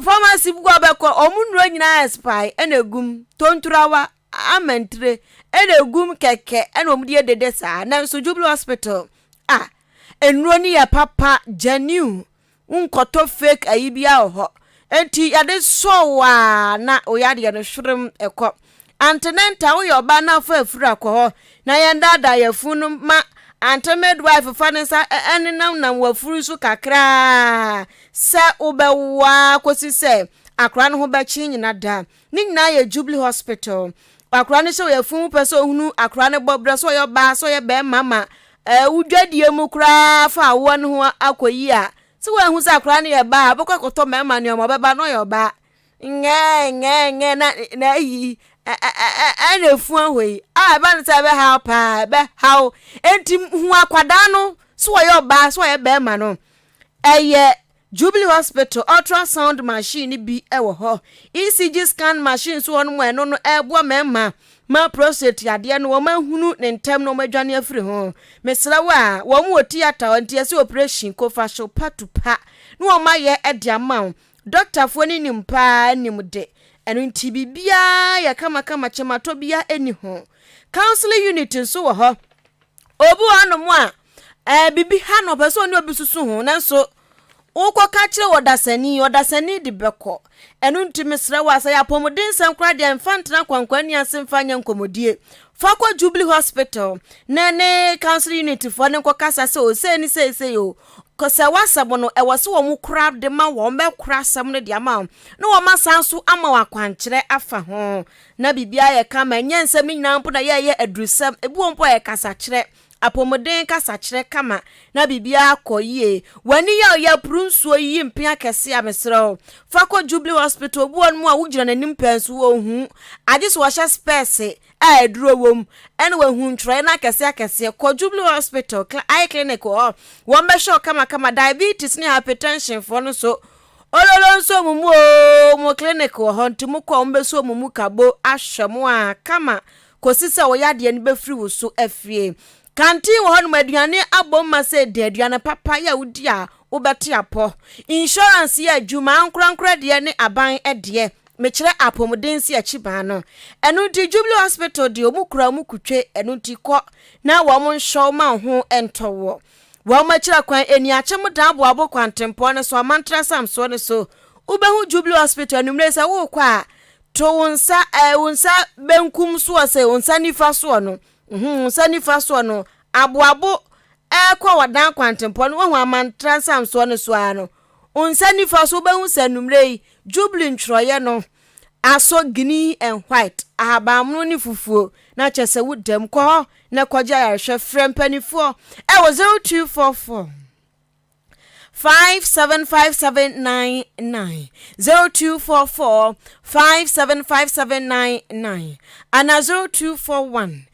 Pharmacy bi kɔ bɛkɔ, wɔn nnuro nyinaa expire ɛna egum, tonturawa, amantire ɛna egum kɛkɛ ɛna wɔn de edede saa. Nanso Jubilee hospital a nnuro no yɛ papa, genuine, nkɔtɔ fake ayi biara wɔ hɔ. Enti yɛde sɔɔ waa na oyadeɛ no hwerem ɛkɔ. Ante ne nta woyɛ ɔbaa na afa afiri akɔ hɔ na yɛn daadaa yɛfun no ma ante midwife fa ne nsa ɛnenamnam wafuru so kakraa sɛ wobɛwoa kɔsi sɛ akora no ho bɛkye nyina da ne nyinaa yɛ jubilee hospital akora no hyɛ wɔ yɛfun mu pɛ sɛ ohunu akora no bɔ berɛ sɛ ɔyɛ ɔbaa sɛ ɔyɛ bɛrima ma wodwadie mu koraa fa awoɔ no ho akɔyi a sɛ woahu sɛ akora no yɛ baa bɛkɔ akɔtɔ mmarima nneɛma ɔbɛba na ɔyɛ ɔbaa Ngɛngɛngɛ na na ayi ɛna efu ahɔ yi a ɛba no sɛ ɛbɛhaw paa ɛbɛhaw enti hu akwadaa no so wɔyɛ ɔbaa so wɔyɛ bɛrima no ɛyɛ jubilee hospital ultrasound machine bi wɔ hɔ ecg scan machine so hɔ no mu ɛno no ɛboa mɛrima ma prostate yadeɛ no wɔn ahunu ne ntɛm na wɔn adwane afiri ho mesrɛ wo a wɔn wɔ theatre nti ɛsɛ operation kofa so patupa na wɔn ayɛ ɛde ama wɔn. Dɔktafoɔ no nim paa nim de, ɛno nti biribiara yɛ kamakama kyematɔ bia ɛni ho. Counseling unit nso wɔ hɔ. Obi wɔ hɔnom a ɛɛ biribi ha no ɔpɛ sɛ ɔne obi susu ho nanso wokɔka kyerɛ wɔ dasani ɔdasani de bɛkɔ. Ɛno nti mesrɛ wo a sɛ yɛ apɔmudensɛm koraa deɛ mfa ntena kwankwanni ase mfa nyɛ nkɔmmɔdie. Fa kɔ Jubilee Hospital ne ne counseling unit foɔ ne nkɔkasa sɛ o sei ne sei sei o Kɔsaw asɛm no, ɛwɔ sɛ wɔn kora de ma wɔn bɛkora asɛm no de ama wo, na wɔn asan nso ama wo akwankyerɛ afa ho. Na biribiara yɛ kama, ɛnyɛ nsɛm no nyinaa mpo na yɛyɛ adurusɛm, ebi wɔ mpo a yɛ kasakyerɛ, apɔmuden kasakyerɛ kama, na biribiara kɔ yie. W'ani yɛ ɔyɛ apuru nsuo yiyi mpea akɛse a, mesrɛ wo, fa kɔ Jubilee Hospital, obi wɔ nom a wogyina n'anim pɛɛ nso ɔnhu, agye sɛ ɔhyɛ spɛɛse a aduro wɔ mu ɛna wahu ntwerɛeɛ no akɛseɛ akɛseɛ kɔ Jubilee Hospital eye clinic wɔ hɔ wɔn bɛhwɛ wo kamakama diabetes ne hypertension foɔ no so ololo nso wɔn mu oo wɔn clinic wɔ hɔ nti mo kɔ wɔn bɛsu wɔn mu kabo ahwɛ mo a kama kɔsi sɛ wo yadeɛ no bɛfiri wo so afie kantin wɔ hɔ nom aduane abom ma sɛ di aduane papa yɛ wodi a wobɛte apɔ insurance yɛ adwuma ankorankora deɛ ne aban deɛ Mekyerɛ apomuden si akyi baa no. Ɛno nti Jubilee Hospital deɛ wɔn kura wɔn kutwe, ɛno nti kɔ na wɔn nhwɛ wo ma wo ho ntɔ woɔ. Wɔn akyira kwan Aniakyem Daaboabo kwantempɔn no so, Amantra Samsoɔ no so, wobɛhu Jubilee Hospital anwummerɛ yi sɛ worekɔ a, to wo nsa eh, wo nsa benkum soɔ sɛ wo nsa nifa soɔ no, mhm, wo nsa nifa soɔ no, aboabo ɛrekɔ wɔdan kwantempɔn no, woahu Amantra Samsoɔ no so ara no, Wo nsa nifa so wobɛhu sɛ anwummerɛ yi Jubilee ntwerɛeɛ no asɔ green and white, ahabanmono ne fufuo, na kyerɛ sɛ wo dam. Kɔ hɔ na kɔgye ayarehwɛ. Frɛ mpanimfoɔ ɛwɔ 0244 575799, 0244 575799, anaa 0241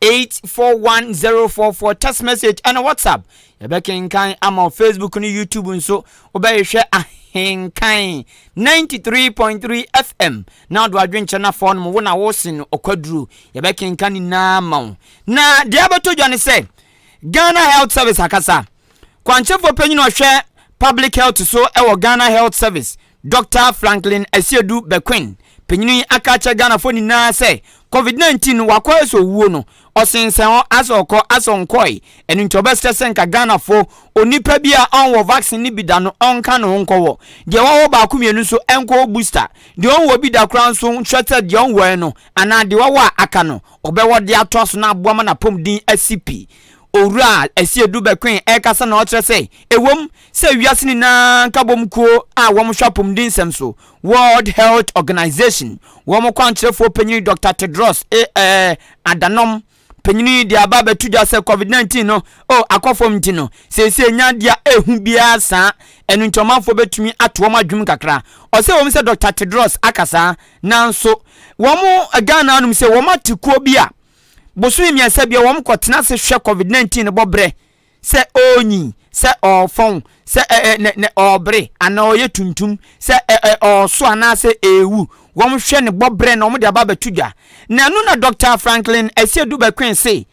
841044 text message ɛne whatsapp yɛbɛkenkan ama facebook ne youtube nso wobɛhwehwɛ ahenkan 93.3 fm na ɔdo adwenkyɛ no afɔ no mu wo na wosen no ɔkwaduro yɛbɛkenka nyinaa ma wo na deɛ abɛtɔ dwa ne sɛ ghana health service akasa kwankyɛfoɔ panyin ɔhwɛ public health so ɛwɔ ghana health service Dɔkta Franklin Asiedu Bequin, panyin yi aka akyerɛ Ghanafoɔ nyinaa sɛ Covid 19 no wakɔ asɔ owuo no, ɔsensɛn hɔ asɛ ɔkɔ asɛ ɔnkɔe, ɛno nti ɔbɛsrɛ sɛ nka Ghanafoɔ onipa bi a ɔnwɔ vaccine no bi da no ɔnka ne ho nkɔwɔ, deɛ wawɔ baako mmienu nso nkɔwɔ booster, deɛ ɔnwɔ bi da koraa nso nhwɛ sɛ deɛ ɔnwɔɛ no anaa deɛ wawɔ a aka no ɔbɛwɔ de atoa so na aboa ma n'apɔmuden asi pi. Owura Asiedu Bequin ɛrekasa na ɔkyerɛ sɛ ɛwom sɛ wiase nyinaa nkabom kuo a wɔn hwɛ apomudensɛm so, World Health Organization, wɔn kwankyerɛfoɔ panyini Dɔkta Tedros A ɛɛ Adanom panyini de aba abɛto dwa sɛ Covid 19 no oh akɔ fam nti no seesei nya adeɛ a ɛhu biara saa ɛno nti ɔmanfoɔ bɛtumi ato wɔn adwum kakra. Ɔsɛ wɔn sɛ Dɔkta Tedros aka saa nanso wɔn Ghana anom sɛ wɔn ate kuo bi a bosome mmiɛnsa bia wɔn kɔ tena ase hwɛ Covid 19 no bɔ berɛ sɛ ɔɔnyin, sɛ ɔɔfɔn, sɛ ɛ ɛ nɛ nɛ ɔɔbre, anaa ɔɔyɛ tuntum, sɛ ɛ ɛ ɔɔso anaasɛ eewu. Wɔhwɛ ne bɔ berɛ na wɔde aba abɛto dwa. Na ɛno na Dɔkta Franklin Asiedu Bekwin se,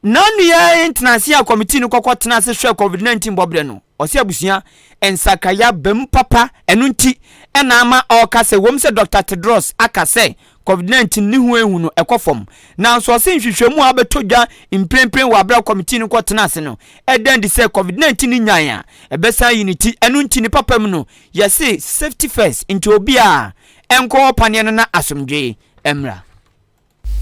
N'ano yi ara yɛ ntenase a kɔmitii no kɔkɔ tenaa ase hwɛɛ Covid 19 bɔ berɛ no. Ɔse abusua nsakrae aba mu papa, ɛno nti na ama ɔɔka sɛ ɛwom sɛ Dɔkta Tedros aka sɛ Covid 19 ne ho ehu no kɔ fam. Nanso ɔse nhwehwɛmu a abɛtɔ dwa mprempren wɔ aber a kɔmitii no kɔ tenaa ase no da adi sɛ Covid 19 no nyae a ɛbɛsan ayi ne ti. Ɛno nti ne papa mu no yɛse safety first nti obiara nkɔ hɔ paneɛ no na asomdwee mmra.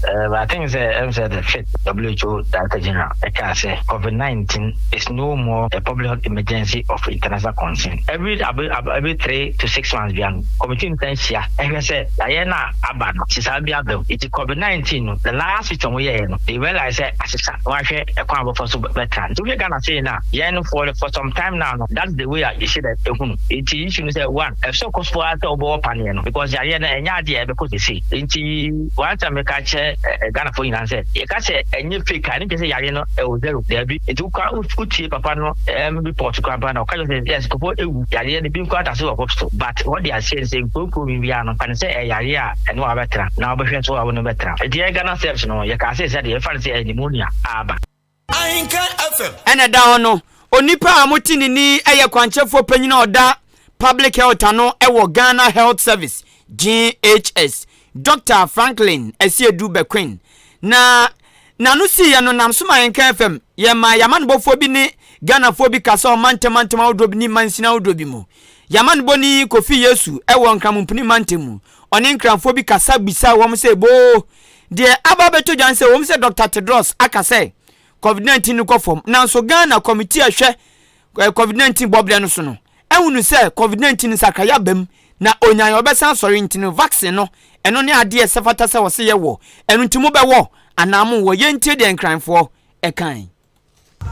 Uh, I think say I'm say the fifth WHO Director General Eka say COVID-19 is no more a public health emergency of international concern. Every every three to six months. Asɛndua no Committee no san hyia hwɛ sɛ daeɛ no a aba no asesa bi aba mu. Nti Covid 19 no the last switch a wɔyɛɛ no they realize sɛ asesa na wɔahwɛ ɛkwan a wɔbɛfa so bɛtra. Nti wohwɛ Ghana sei no a yɛn for for some time now no that's the way a yɛhyɛ da ɛhu no. Nti issue no sɛ one ɛsɛ sɛ ɔkɔso ara sɛ wobɛwɔ paneɛ no because yareɛ no ɛnyɛ adeɛ a ɛbɛkɔ sesei. Nti one time meka kyerɛ Ghanafoɔ nyinaa sɛ yɛka sɛ ɛnyɛ fake a ɛno nkyerɛ sɛ yareɛ no ɛwɔ zero daabi. Nti wokɔ a wotie papa no ɛm report koraa mpo na ɔka kyerɛ sɛ yes nkɔfo ewu yareɛ no bi nkɔ atase wɔ hope so but wɔde aseɛ sɛ nkurokuro bi biara no fa ne sɛ ɛyɛ yareɛ a ɛne wa bɛtra na wɔbɛhwɛ so a wɔne bɛtra nti yɛn Ghana Serbs no yɛkaa sɛ sɛdeɛ yɛfa ne sɛ ɛyɛ pneumonia a aba Ahenka FM. Ɛna ɛda hɔ no, onipa a mote ne ni yɛ kwankyɛfoɔ panyin a ɔda Public Health ano wɔ Ghana Health Service, GHS. Dɔkta Franklin Asiedu Bequin, na n'ano siiɛ no nam so ma yɛnkaa fam. Yɛmaa yɛn amanebɔfoɔ bi ne Ghanafoɔ bi kasa wɔ mantam mantam ahodoɔ bi ne mansini ahodoɔ bi mu. Yɛn amanebɔni Kofi Yesu wɔ Nkramompuni mantam mu. Ɔne Nkranfoɔ bi kasa bisaa wɔn sɛ boo deɛ aba abɛtɔ dwa ne sɛ ɛwɔ mu sɛ Dɔkta Tedros aka sɛ Covid-19 no kɔ fam nanso Ghana Kɔmitii a ɛhwɛ Covid nineteen bɔberɛ no so no, ahunu sɛ Covid nineteen nsakraeɛ aba mu na ɔnyae ɔbɛsan asɔre nti no vaccine no ɛno ne adeɛ ɛsɛ fata sɛ ɔse yɛ wɔ ɛno nti mo bɛ wɔ anaa mo wɔ yɛn ntie deɛ nkranfoɔ ɛkae.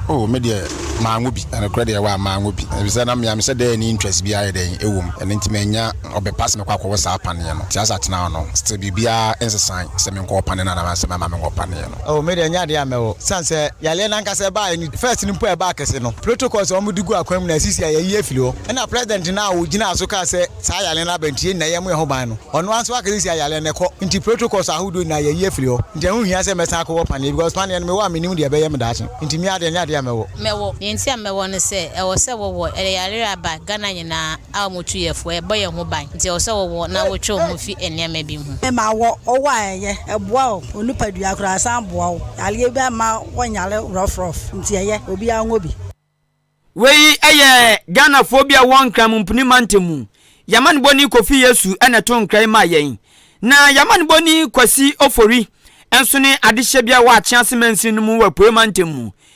Oh me deɛ maa ngo bi na nokorɛ deɛ waa maa ngo bi ɛfisɛ na mea mesɛ dɛɛ ɛni interest biaa yɛ dɛn ɛwɔ mu ɛno nti manya ɔbɛ pa sɛ mɛkɔ akɔwɔ saa paneɛ no nti asa tena hɔ no still biribiaa nsesae sɛ menkɔ wɔ paneɛ no anaa sɛ mɛma menkɔ paneɛ no. Oh me deɛ ɛnyɛ adeɛ a mɛwɔ sane sɛ yareɛ no ankasa ɛbaaɛ no first no mpo a ɛbaa kɛse no protocols a wɔn de gu akwan mu na asisi a yɛayi afiri hɔ ɛna president no a ɔgyinaa so kaa sɛ saa yareɛ no aba nti yɛn nyinaa yɛmmɔ yɛn ho ban no ɔno ara nso aka sɛ si a yareɛ no ɛkɔ nti protocols ahodoɔ nyinaa yɛayi afiri hɔ nti ɛho nhia sɛ mɛsan akɔwɔ paneɛ because paneɛ no mewɔ a mennim deɛ ɛbɛyɛ me daakye nti me ara deɛ ɛnyɛ adeɛ a mɛwɔ. Mɛwɔ. Deɛ nti a mɛwɔ ne sɛ ɛwɔ sɛ wɔwɔ ɛyɛ yareɛ a ɛba Ghana nyinaa. a wɔn tu yɛ fo, ɛbɔ yɛn ho ban, nti ɛwɔ sɛ wɔwɔ na wotwe wɔn ho fi nneɛma bi ho. Ɛma wɔ ɔwɔ a ɛyɛ, ɛboa wɔ onipadua koraa, ɛsan boa wo yareɛ bi a ɛmma wɔnyare rough rough, nti ɛyɛ, obiara nwɔ bi. Wei yɛ Ghanafoɔ bi a ɔwɔ Nkranmu Mpini Mantam mu, Yamanboni Kofi Yesu na ɛtoo nkra yi maa yɛn. Na Yamanboni Kwasi Ofori nso ne adehyɛbea wɔ Akyease Mansini no mu wɔ Apuei Mantam mu.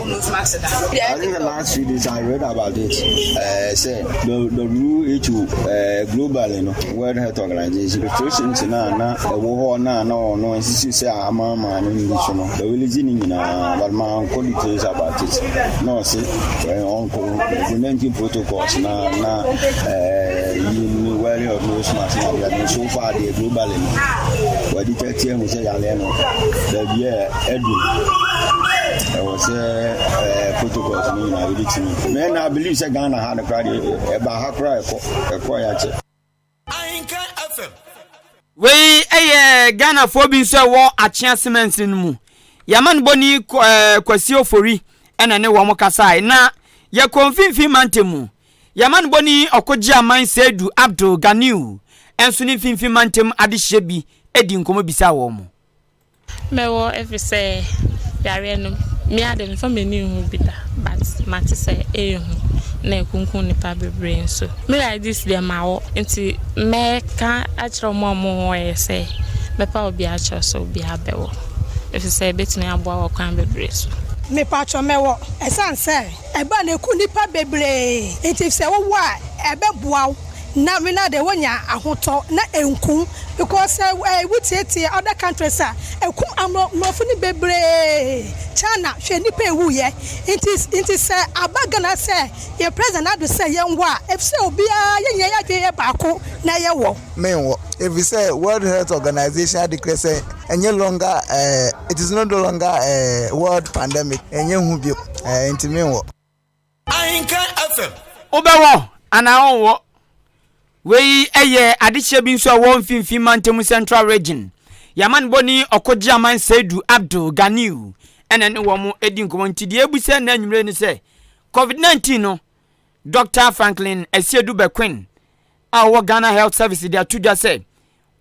I think the last few days I read about it. Uh, say the the WHO uh, global you know, World Health Organization restrictions na na ɛwɔ hɔ na na wɔn no nsisi sɛ ama ama no nyi so no ɛwɛlɛdzi ne nyinaa but ma nkɔ details about it na ɔsi ɛyɛ ɔnkɔ implementing protocols na na ɛɛ yi ni wɛri of nose mask na ɔbɛn no so far deɛ global you know, wɔde tɛtɛ mu sɛ yalɛ no baabi a ɛdu. ɛwɔ sɛ ɛɛ protocols no nyinaa ebi ti mi mɛ na believe sɛ ghana ha no koraa de ɛba ha koraa ɛkɔ ɛkɔ yɛ akyɛ. ahinka fm. wei yɛ ghanafoɔ bi nso ɛwɔ akyea cement no mu yɛma no bɔni ɛɛ kwasi ofori ɛna ne wɔn kasae na yɛkɔ mfimfini mante mu yɛma no bɔni ɔkɔgye aman seidu abdul ganiu ɛnso ne mfimfini mante mu adehyeɛ bi ɛdi nkɔmɔ bisa wɔn. Mɛwɔ efisɛ yareɛ no me ara de memfa m'ani nhu bi da but mate sɛ ɛyɛ hu na ɛkunkum nnipa bebree nso. Me Laidis deɛ mawɔ nti mɛka akyerɛ wɔn a wɔwɔeɛ sɛ mɛpa obi akyerɛ sɛ obiara bɛwɔ efisɛ ɛbɛtumi aboa wɔ kwan bebree so. Mepatwɔ mɛwɔ ɛsiane sɛ ɛba no ɛku nnipa bebree nti sɛ wowɔ a ɛbɛboa wo. na me na de wonya ahotɔ na enku because eh wo tie tie other countries a eku amro mmorɔfo no bebree China hwɛ nnipa ewu yɛ nti nti sɛ aba Ghana sɛ yɛn president ado sɛ yɛn wɔ a efisɛ obiara yɛn nyinaa yɛ adwene yɛ baako na yɛ wɔ. Me nwɔ efisɛ world health organization ade krɛ sɛ ɛnyɛ longer eh it is no longer eh world pandemic ɛnyɛ hu bio eh nti me nwɔ. Ahenkan FM. Wobɛwɔ anaa wonwɔ? Wei yɛ adehyeɛ bi nso a ɛwɔ mfimfini mantam central region. Yɛamanebɔni ɔkogyeaman Seidu Abdul Ganiu ɛna ne wɔn di nkɔmmɔ nti deɛ ɛbu sɛ na anwummere ne sɛ COVID-19 no Dr. Franklin Asiedu Bekwin a ɔwɔ Ghana Health Service de ato dwa sɛ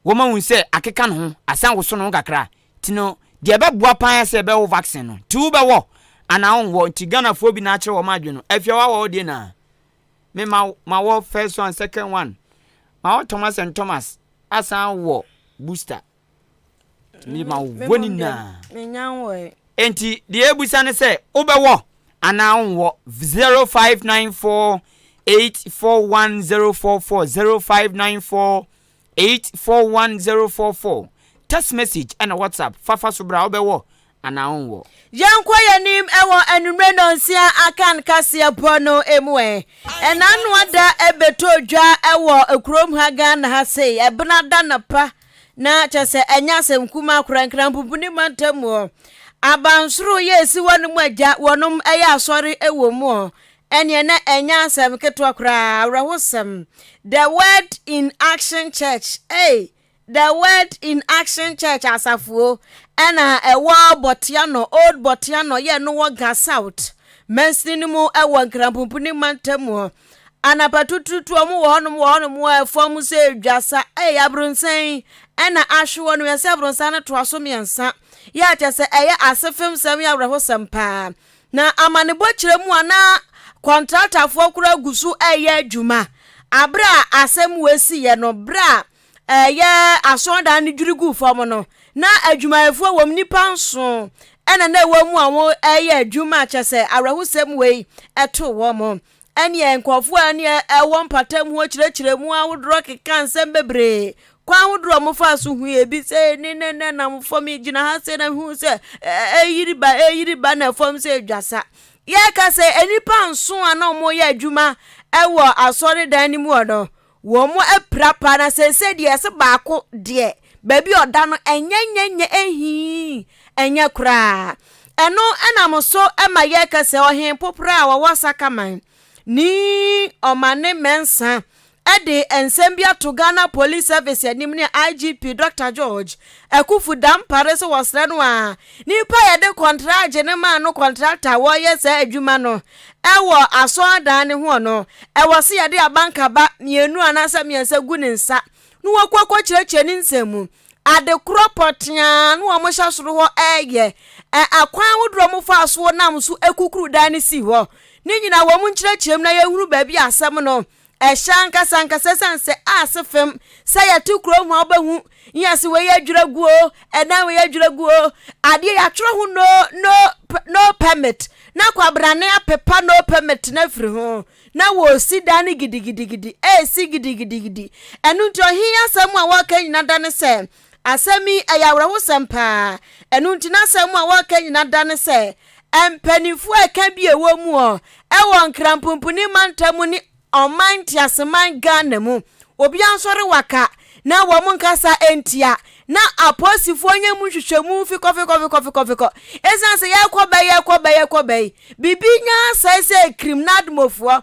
wɔma hu sɛ akeka no ho asan woso no ho kakra a, nti no deɛ ɛbɛboa paa ara sɛ bɛwɔ vaccine no. Nti wo bɛwɔ anaa wo nwɔ? Nti Ghanafoɔ bi na akyerɛ wɔn adwene no. Afie a wawɔ wo deɛ naa? Me ma ma wɔ first one, second one. Ma wɔ Thomas and Thomas asan wɔ booster. Nti me ma wo wɔ ne nyinaa. Me nya nwɔ ɛ. Nti deɛ ɛbusa ne sɛ wo bɛwɔ anaa wo nwɔ? 0594 841044 0594 841044 Text message ɛna WhatsApp Fafa so bra wobɛwɔ anaa wonwɔ? Yɛnkɔ yɛnim wɔ anwummerɛ nnɔnsia aka no kaseɛ bɔ no mu ɛ. Ɛnaano ada ɛbɛtɔɔ dwa wɔ kurom ha Ghana ha sei ɛbena da napa na kyɛ sɛ ɛnyɛ asɛm kumaa koraa Nkranpopuni mantam hɔ. Abansoro yɛ ɛsi hɔ nom agya wɔnom ɛyɛ asɔre wɔ mu hɔ Ɛneɛ na ɛnyɛ asɛm ketewa koraa, awerɛhosɛm. The Word in Action Church, ei, The Word in Action Church asafoɔ ɛna ɛwɔ Botiano, Old Botiano, yɛ no wɔ Ga South, mansini no mu ɛwɔ Nkranpumpuni mantam hɔ. Anapa tututu wɔn wɔ hɔnom wɔ hɔnom a ɛfam sɛ dwasa, ei, abronsɛn ɛna ahwe hɔ no, yɛsɛ abronsɛn no toa so mmiɛnsa. Yɛ akyɛ sɛ ɛyɛ asefem sɛm, yɛ awerɛhosɛm paa. Na amanebɔ kyerɛ mu a na kɔntraktafoɔ koraa gu so reyɛ adwuma aberɛ a asɛm wei siiɛ no berɛ a ɛyɛ asɔredan no dwiri guu fam no na adwumayɛfoɔ wɔm nnipa nson ɛna na ɛwɔ mu a wɔreyɛ adwuma a kyɛ sɛ awerɛhosɛm wei ɛtoo wɔn Ɛnneɛ nkurɔfoɔ a ɛne ɛwɔ mpatamu hɔ kyerɛkyerɛmu ahodoɔ keka nsɛm bebree. Kwan ahodoɔ a wɔfaa so hui ebi sɛ ne ne ne nam fam yi gyina ha sɛ na hu sɛ ɛyiri ba ɛyiri ba na fam sɛ dwasa. Yɛka sɛ nnipa nson a na wɔyɛ adwuma wɔ asɔredan no mu hɔ no, Wɔn apira paa na seesei deɛ ɛsɛ baako deɛ baabi a ɔda no ɛnyɛ nyɛ nyɛ ɛhii ɛnyɛ koraa ɛno ɛnam so ɛma yɛka sɛ ɔhen popra a wɔwɔ sakaman ni ɔmane mɛnsa ɛde nsɛm bi ato ghana police service anim ne igp dr george akufu dampare so wɔsrɛ no a nipa yɛde kɔntragye ne maa no kɔntrakta a wɔyɛ saa adwuma no Wɔ asɔrdan no ho no, ɛwɔ sɛ yɛde abankaba mmienu anaasɛ mmiɛnsa gu ne nsa na wɔkɔ akɔkyerɛkyerɛ ne nsɛm mu. Ade korɔ pɔteaa na wɔhyɛ soro hɔ reyɛ. Akwan ahodoɔ a wɔfaa so nam so kukuru dan no sii hɔ. Ne nyinaa wɔn nkyerɛkyerɛm na yɛhunu baabi a asɛm no Ɛhyɛ ankasa ankasa ɛsiane sɛ a se fam sɛ yɛto kuro ho a wobɛhu yɛ se wei yɛ dwerɛ guo ɛdan wei yɛ dwerɛ guo adeɛ yɛatwerɛ ho no no no permit na kwabrane apepa no permit no afiri ho na wɔresi dan no gidigidigidi ɛresi gidigidigidi ɛno nti ɔhe asɛm a wɔreka nyina da ne sɛ Asɛm yi, ɛyɛ awerɛhosɛm paa. Ɛno nti, n'asɛm a wɔka nyina da ne sɛ, mpanyimfo a ɛka bi a ɛwɔ mu ɔ, ɛwɔ Nkrampompuni mantam mu ne ɔman nteaseman Ghana mu, obi ansɔre waka na wɔn nkasa ntia, na apolisifo nyɛ mu nhwehwɛmu fikɔfikɔfikɔfikɔfikɔ. Ɛsiane sɛ yɛkɔ bɛ, yɛkɔ bɛ, yɛkɔ bɛ yi, biribi nya asɛe sɛ Krim n'admɔfoɔ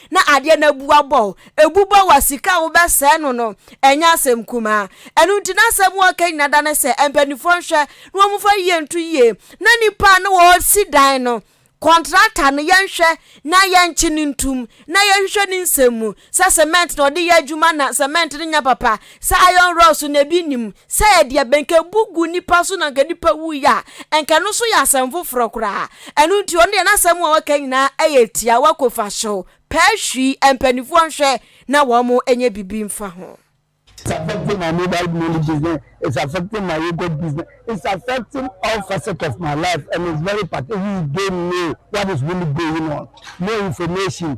na adeɛ no abu abɔ wo ebu bɔ wo a sika a wobɛsɛe no no ɛnyɛ asɛm kumaa ɛno nti na asɛm wɔka nyina da ne sɛ mpanimfoɔ nhwɛ na wɔmfa yie nto yie na nipa a na wɔsi dan no kɔntrata no yɛnhwɛ na yɛnkye no ntum na yɛnhwehwɛ ne nsɛm mu sɛ cement na ɔde yɛ adwuma na cement no nyɛ papa Sɛ iron rods na ebi nnim, sɛ ɛyɛ deɛ bɛn nka ebu gu nipa so na nka nipa wui a, nka ɛno nso yɛ asɛm foforɔ koraa. Ɛno nti ɔno deɛ n'asɛm a waka nyinaa yɛ tiawa kofaso, pɛɛ hwii, mpaninfoɔ nhwɛ na wɔn nyɛ bibi nfa ho. It's affecting my mobile money business, it's affecting my yogurt business, it's affecting all facets of my life and it's very pathetic, we don't know what is really going on, more information.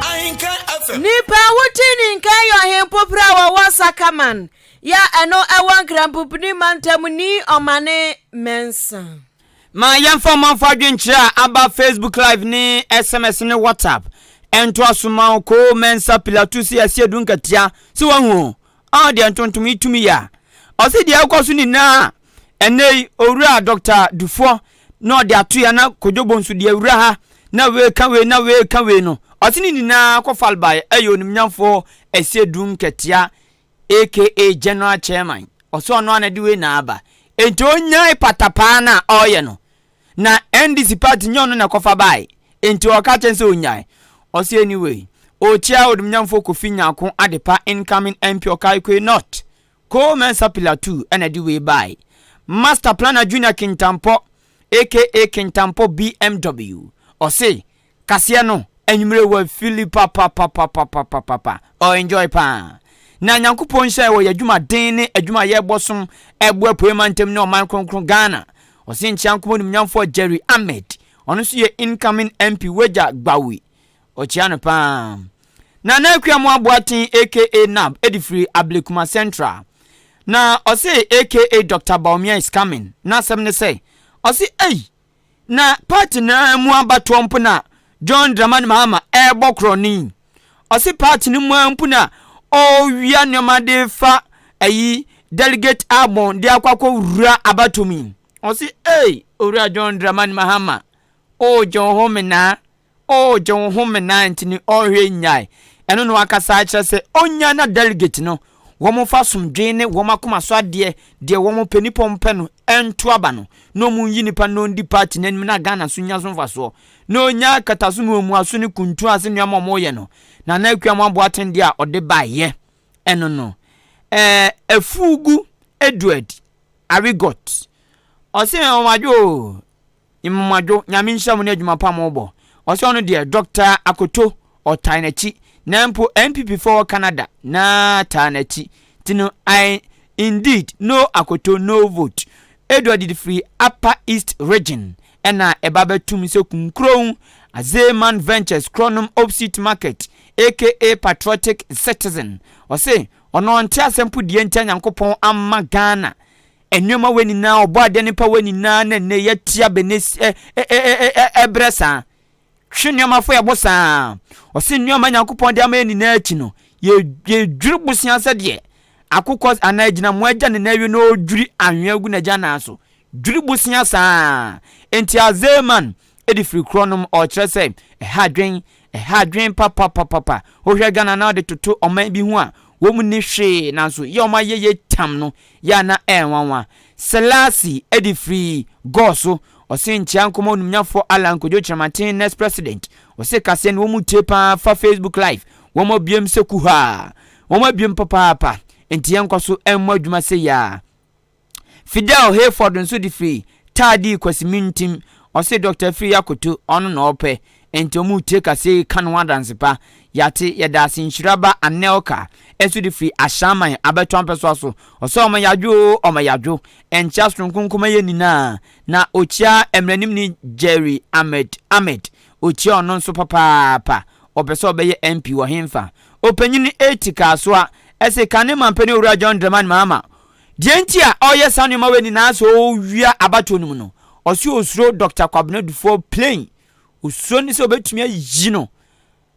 Ahenka FM. Nipa Wuti ne Nkan yɛ ɔhempopere a ɔwɔ Sakaman yi a ɛno ɛwɔ Nkranpopini mantam ni ɔmane mɛnsa. Ma yɛmfa ɔmanfo adwenkyerɛ a aba Facebook Live ne sms ne WhatsApp ntoa so ma wo Koo Mensah Pilatusi Asiedu Nkatia sɛ woahu o Ɔɔ deɛ ntontom yi tumi yɛ a. Ɔse deɛ ɛrekɔ so nyinaa a ɛnnɛ yi owura Doctor Dufoɔ na ɔde ato yɛ na Kodwobo nso deɛ wura ha na wei ka wei na wei ka wei no ɔse ne nyinaa kɔ fal baeɛ ɛyɛ onimnyamfoɔ Ɛsiedu Nkatia aka General Chairman ɔse ɔno ara na ɛde wei na aba enti ɔnyae patapaa no a ɔreyɛ no na ndc party nyɛ ɔno na ɛkɔfa bae nti ɔka kyɛn sɛ onyae ɔse anyway okyia odumnyamfoɔ Kofi Nyarko Adepa incoming MP Okaikoe North Coal Mensah pillar two ɛna ɛde wei bae Master planner Junior Kintampɔ aka Kintampɔ BMW ɔse Kaseɛ no anwummerɛ wɔ fili papapapapapapapa ɔ enjoy paa na Nyankopɔn nhyira wɔ yɛadwuma den ne adwuma yɛbɔ som ɛbo apuei mantam ne ɔman kronkron Ghana ɔse nkyea nko animnyamfoɔ Jerry Ahmed ɔno nso yɛ incoming MP wagya gbaui ɔkyea no paa Nana Akuamoah Boateng aka Nab ɛde firi Ablekuma Central na ɔse aka Doctor Bawumia is coming n'asɛm ne sɛ ɔse ei Na party no ara mu abatoɔ mpo na John Dramani Mahama ɛrebɔ korɔ no yi. Ɔse party no mu ara mpo na ɔrewia nneɛma de fa ayi delegate album de akɔ akɔ wura abatoɔ mu yi. Ɔse ei Owura John Dramani Mahama, wogye wo ho menaa. Oh gye wo ho menae nti ne ɔhwɛ nyae ɛno no ankasa kyerɛ sɛ ɔnya na delegate no wɔn mfa asomdwee ne wɔn akoma so adeɛ deɛ wɔn pɛ nipa wɔn pɛ no nto aba no na wɔn nyi nipa na ɔndi party no anim na Ghana so nya so mfasoɔ na ɔnya akataso ne omuaso ne kuntu ase nneɛma wɔn yɛ no Nana Akua Amoaboaten deɛ a ɔde baeɛ ɛno no ɛɛ afugu Edward Arigot ɔse wɔn adwo oo. Nhomadwo, Nyame nhyira mo ne adwuma pa mo bɔ. Ɔsɛ ɔno deɛ Doctor Akoto ɔtae nakyi na mpo NPP foɔ wɔ Canada na taa nakyi nti no I indeed no Akoto no vote Edward de firi upper east region ɛna ɛba bɛtum sɛ Kunkurow Azeman Ventures Kronom opsite market aka patriotic citizen ɔse ɔno ɔnte asɛm po deɛ ntia Nyankopɔn ama Ghana Nneɛma wei nyinaa, ɔbɔadeɛ no pɛwɛ nyinaa na nnɛ yɛatia bɛ ne ɛ ɛ ɛ ɛ ɛbrɛ saa. Hwe nneɛma fo yɛbo saa. Ɔse nneɛma Nyankopɔn de ama yɛ nyinaa akyi no, yɛ yɛdwiri bosea sɛdeɛ akokɔ anaa agyinamoa agya ne nan awie na ɔredwiri anhwea agu n'agya nan so. Dwiri bosea saa. Enti Azeman, Edi firi korɔ nom ɔkyerɛ sɛ ɛha adwen ɛha adwen papapapapa wohwɛ Ghana na ɔde toto ɔman bi ho a wɔn mu ni hwee nanso yɛ wɔn ayɛyɛ tam no yɛ a na ɛnwanwa Selasi edi firi gɔɔ so ɔse nkyea nkɔmɔ onimnyafoɔ Allan Kwadwo Kyerematen next president ɔse kaseɛ no wɔn mu tie paa fa Facebook live wɔn abiem sɛ kuhaa wɔn abiem papaapa nti yɛnkɔ so ɛmmɔ adwuma sɛ yi a. Fidel Hayford nso de firi taa dii Kwasi Mintim, ɔse Dɔkta Afiri Akoto ɔno na ɔpɛ, enti ɔmo retie kaseɛ yi ka ne ho adanse pa, yɛate, yɛda ase Nhyira ba Anelka nso de firi Ashaiman abɛto Ampɛsoa so, ɔse ɔma yadwo oo ɔma yadwo, ɛnkyea sononko nkɔma yɛ nyinaa, na ɔkyia Mmranimni Jerry Ahmed Ahmed, ɔkyia ɔno nso papaapa, ɔpɛ sɛ ɔbɛyɛ MP wɔ henfa? Ɔpanyini Eti Kasoa se kane Mampanin Owura John Dramani Mahama Deɛ nti a ɔreyɛ saa nnoɔma wei nyinaa sɛ ɔrewia abatoɔ no mu no, ɔse ɔsuro Dɔkta Kwabena Dufour plain, ɔsuro ne sɛ ɔbɛtumi ayi no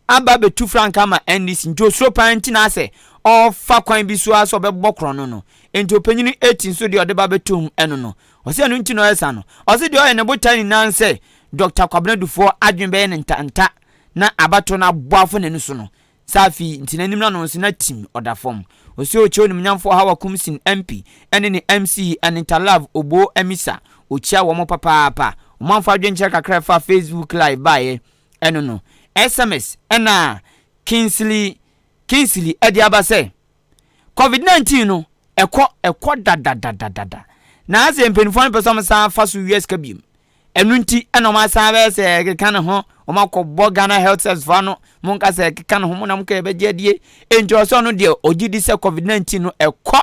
aba abɛtu frankaa ama NDC nti ɔsuro paa nti na asɛ ɔrefa kwan bi so ara sɛ ɔbɛbɔ korɔno no nti ɔpanyini eti nso deɛ ɔde ba bɛtom ɛno no ɔse ɛno nti na ɔyɛ saa no. Ɔse deɛ ɔyɛ ne botae nyinaa ne sɛ Dɔkta Kwabena Dufour adwene bɛyɛ no ntanta na abatoɔ no abɔ afɔ n'ani so no Safi nti n'anim no ano nso na tim ɔda fam. Osua Okyɛ onimnyamfoɔ Hawa Kumsin Ampi ne ne MC Anita Love Oboo Amisa. Okyia wɔn papaapa. Wɔn amfa adwenkyerɛ kakra a ɛfa Facebook live baeɛ ɛno no. SMS ɛna Kingsley Kingsley ɛde aba sɛ, Covid 19 no ɛkɔ ɛkɔ dadadadadada. Na asɛ mpaninfoɔ no pɛ sɛ wɔn san fa so wia sika biom. Ɛno nti na wɔn asan bɛyɛ sɛ ɛkeka ne ho, wɔn akɔbɔ Ghana Health Service foɔ ano, wɔn nka sɛ ɛkeka ne ho, wɔn na wɔn kɔ ɛbɛgye adie. Enti ɔsɛ ɔno deɛ ɔgye di sɛ covid 19 no ɛkɔ,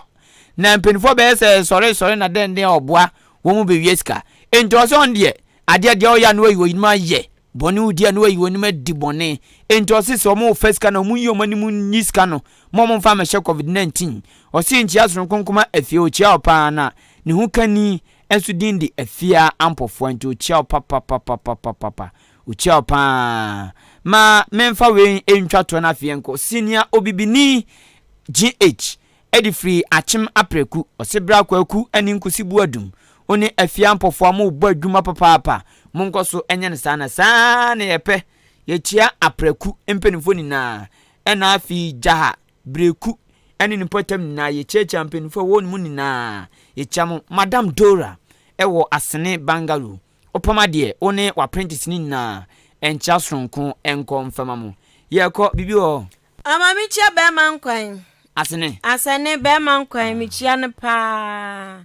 na mpanimfoɔ bɛyɛ sɛ sɔre sɔre na dɛn dɛn ɔboa wɔn bɛwie sika. Enti ɔsɛ ɔno deɛ adeɛ deɛ ɔyɛ a na wayi wɔn anim ayɛ, bɔne odi a na wayi wɔn anim adi bɔne. Enti ɔsɛ sɛ wɔn refa sika no wɔn nyi wɔn anim nyi sika no, ma wɔn mfa mmɛhyɛ covid 19. Ɔsɛ nkyia soronko nkoma afie, ɔkyia ɔpaa na ne ho kani Nso din de afia ampɔfoa nti ɔkyia wo papapapapapapa ɔkyia wo paa ma menfa wei ntwa toɔ no afei yɛnkɔ senior obibini GH ɛde firi akyem aprɛku ɔse bra kwaku ɛne nkusi boadum ɔne afia ampɔfoa mo bɔ adwuma papaapa mo nkɔ so ɛnyɛ no saa na saa na yɛpɛ yɛkyia aprɛku mpanimfoɔ nyinaa ɛna afei gyaha Breku ɛne ne mpɔtam nyinaa yɛkyiakyia mpaninfoɔ a ɛwɔ hɔ no mu nyinaa yɛkyia mo Madam Dora ɛwɔ Asene Bangalore wopam adeɛ wo ne w'apprentice no nyinaa ɛnkyea soronko ɛnkɔ mfɛma mo yɛkɔ biribi wɔ hɔ? Ɔ ma me kyia bɛɛma nkwan. Asene. Asene bɛɛma nkwan me kyia no paa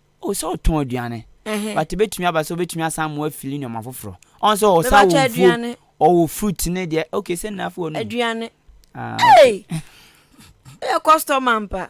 Oh sɛ ɔtɔn aduane Ɛhɛn. but ebetumi aba sɛ obetumi asan amoa afili nneɛma foforɔ ɔn sɛ ɔwɔ saa Mebakyɛ wɔ nfuom aduane. ɔwɔ fruit ne deɛ okay sɛ nnafoɔ nom Aduane. ah okay. Ei! Woyɛ customer ampa.